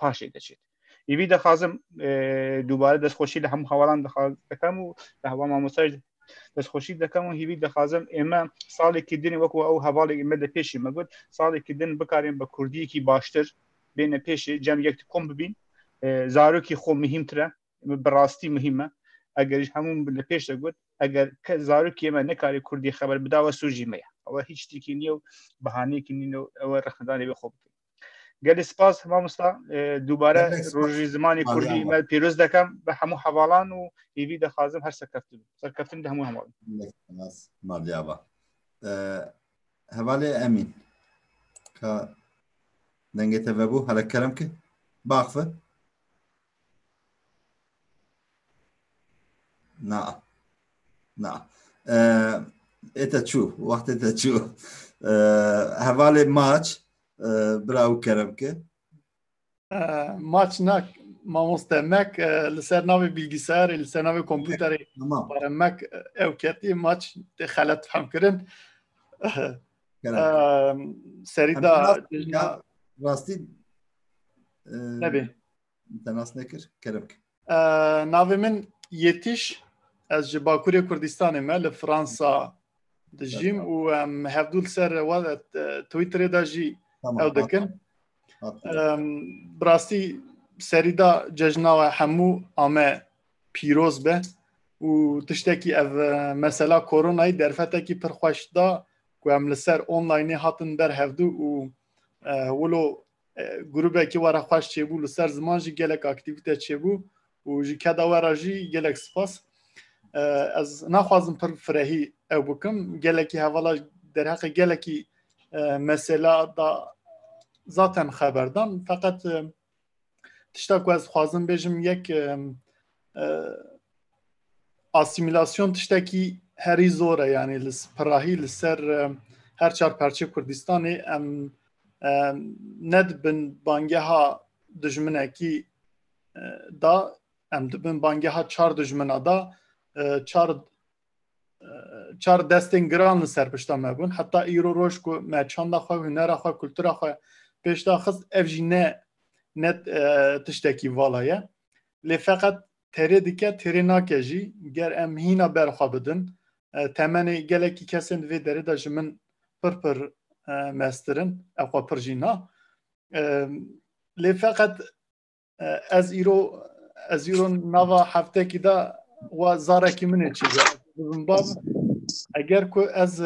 paşê deçêt. Îvî dixwazim dubare destxweşî li hemû hewalan dikim û li hewa mamostaj destxweşî dikim û hîvî dixwazim ême salekî din wekû ew hevalê me de pêşî me got salekî din bikarên bi kurdiyekî baştir bêne pêşê cem yek kom bibîn zarokî xwe mihîmtir e bi rastî mihîm e eger ji hemû li pêş de got eger ke zarokê me nekarê kurdî xeber bidawe sûcî me ye ew hiç tîkî niye û bihaneyekî nîne ew rexnedanê wê xwe bikin Gelê spas mamosta dubare rojî zimanê kurdî me pîroz dekem bi hemû hevalan û hêvî dixwazim her serkeftin serkeftin di hemû hevalin. Maliyaba. Hevalê Emîn. Ka dengê te vebû hele kerem ki baxfe. Na. Na. Ête çû. Wextê te çû. Hevalê maç bira û kerem ki. Maç nak mamoste mek li ser navê bilgisayarê li ser navê kompûterê bare mek ew ketî maç tê xelet fehm kirin. Serî da rastî nebê. Te nas nekir, kerem ki. Navê min Yetiş, ez ji Bakurê Kurdistanê me li Fransa dijîm û em hevdû li ser Twitterê de jî ew dikin. Bi rastî serî da cejna we hemû ame pîroz be û tiştekî ev mesela koronayî derfetekî pir xweş da ku em li ser onlaynê hatin ber hevdû û wilo grûbekî were xweş çêbû li ser ziman jî gelek aktîvîte çêbû û ji keda we re jî gelek spas ez naxwazim pir firehî ew bikim gelekî hevala derheqê gelekî mesela da zaten xeberdan feqet tişta ku ez xwazim bêjim yek asîmîlasyon tiştekî herî zor e yanî li pirahî li ser her çar parçeyê Kurdistanê em nedibin bangeha dijminekî da em dibin bangeha çar dijmina da çar çar destên giran li ser pişta me bûn heta îro roj ku me çanda xwe hunera xwe kultura xwe pêşda xist ev jî ne net tiştekî vala ye lê feqet terê dike terê nake jî ger em hîna ber xwe bidin temenê gelekî kesên di vê derê de ji min pir pir mestir in ew xwe pir jî na lê feqet ez îro ez îro nava heftekî de wa zarekî min ê çî bibim bav eger ku ez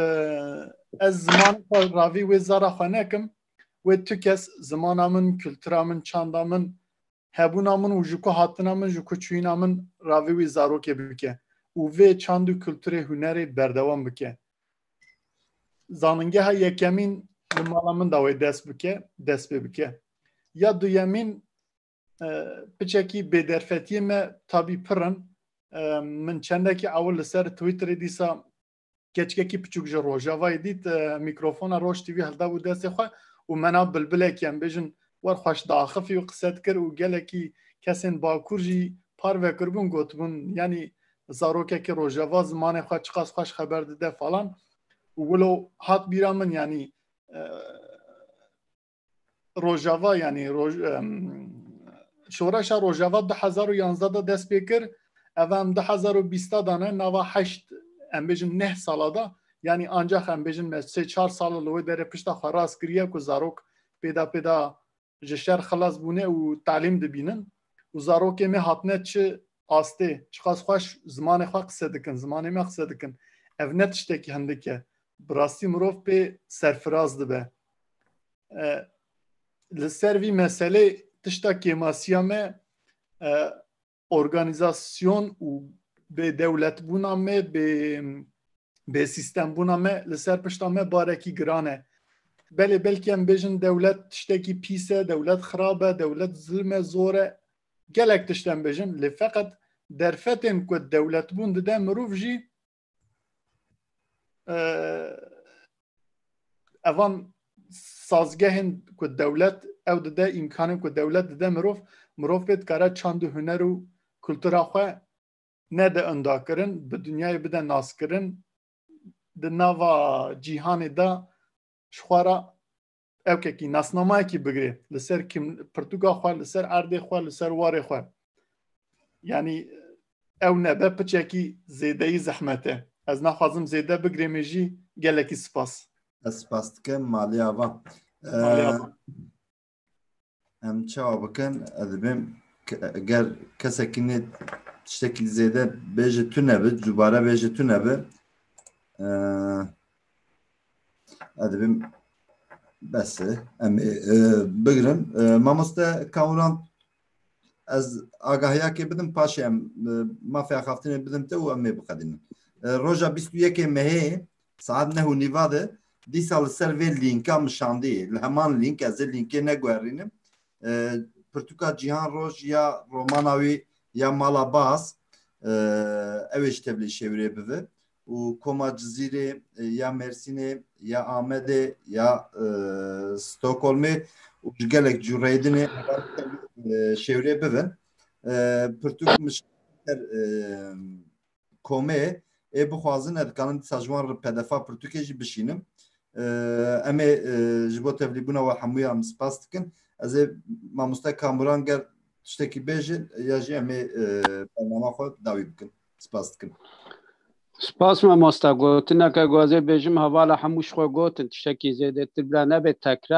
ez ziman xwe ravî wê zara xwe nekim wê tu kes zimana min kultura min çanda min hebûna min û ji ku hatina min ji ku çûyîna min ra vê wî zarokê bike û vê çand û kulturê hunerê berdewam bike. Zaningeha yekemîn li mala min da wê dest bike, dest pê bike. Ya duyemîn piçekî bêderfetiyê me tabî pirin min çendekî ew li ser Twitterê dîsa keçikekî piçûk ji rojavayê dît mîkrofona roj TV hildabû destê xwe û me na bilbilekî em bêjin wer xweş diaxifî û qise dikir û gelekî kesên bakur jî parve kiribûn gotibûn yanî zarokekî rojava zimanê xwe çiqas xweş xeber dide falan û wilo hat bîra min yanî Rojava yani roj şoreşa Rojava 2011 da dest pê kir ev em 2020 da ne nava heşt em bêjin neh sala da yani ancak em bêjin me sê çar sal li wê derê pişta xwe rast kiriye ku zarok pêda pêda ji şer xilas bûne û talîm dibînin û zarokê me hatine çi astê çiqas xweş zimanê xwe qise dikin zimanê me qise dikin ev ne tiştekî hindike bi rastî mirov pê serfiraz dibe li ser vî meselê tişta kêmasiya me organizasyon û bê dewletbûna me bê bê sîstembûna me li ser pişta me barekî giran e belê belkî em bêjin dewlet tiştekî pîs e dewlet xirab e dewlet zilm e zor e gelek tişt em bêjin lê feqet derfetên ku dewletbûn dide mirov jî evan sazgehên ku dewlet ew dide îmkanên ku dewlet dide mirov mirov pê dikare çand û huner û kultura xwe nede undakirin bi dinyayê bide naskirin di nava cîhanê de ji xwe re Ew kekî nasnamayekî bigirê li ser kim pirtûka xwe li ser erdê xwe li ser warê xwe. Yanî ew nebe piçekî zêdeyî zehmet e. Ez naxwazim zêde bigirê me jî gelekî sipas. Ez spas dikim malê ava. Malê ava. Em çawa bikin ez dibêm ger kesekî nê tiştekî zêde bêje tu nebi dubare bêje tu nebi ez dibêm bes e em ê bigirin mamoste kawran ez agahiyakê bidim paşê em mafê axaftinê bidim te û em ê biqedînin roja bîst û yekê mehê Saet neh û nîva de dîsa li ser vê lînka min şandiyê. Li heman lînk, ez ê lînkê neguherînim, pirtûka Cîhan Roj ya romana wî ya Mala Baz ew ê ji tevlî şêwirê bivi û koma Cizîrê ya Mêrsînê ya Amedê ya Stokholmê û ji gelek cû reyê din ê şêwirê bivin. Pirtûk min şandî ser komê ê bixwazin ez dikarin dîsa ji wan re pedefa pirtûkê jî bişînim. Em ê ji bo tevlîbûna we hemûyan em spas dikin. Ez ê mamoste Kamuran ger tiştekî bêje ya jî em ê bernama xwe dawî bikin. Spas dikim. Spas mamoste gotineke ku ez ê bêjim hevala hemû ji xwe gotin tiştekî zêdetir bila nebe tekrar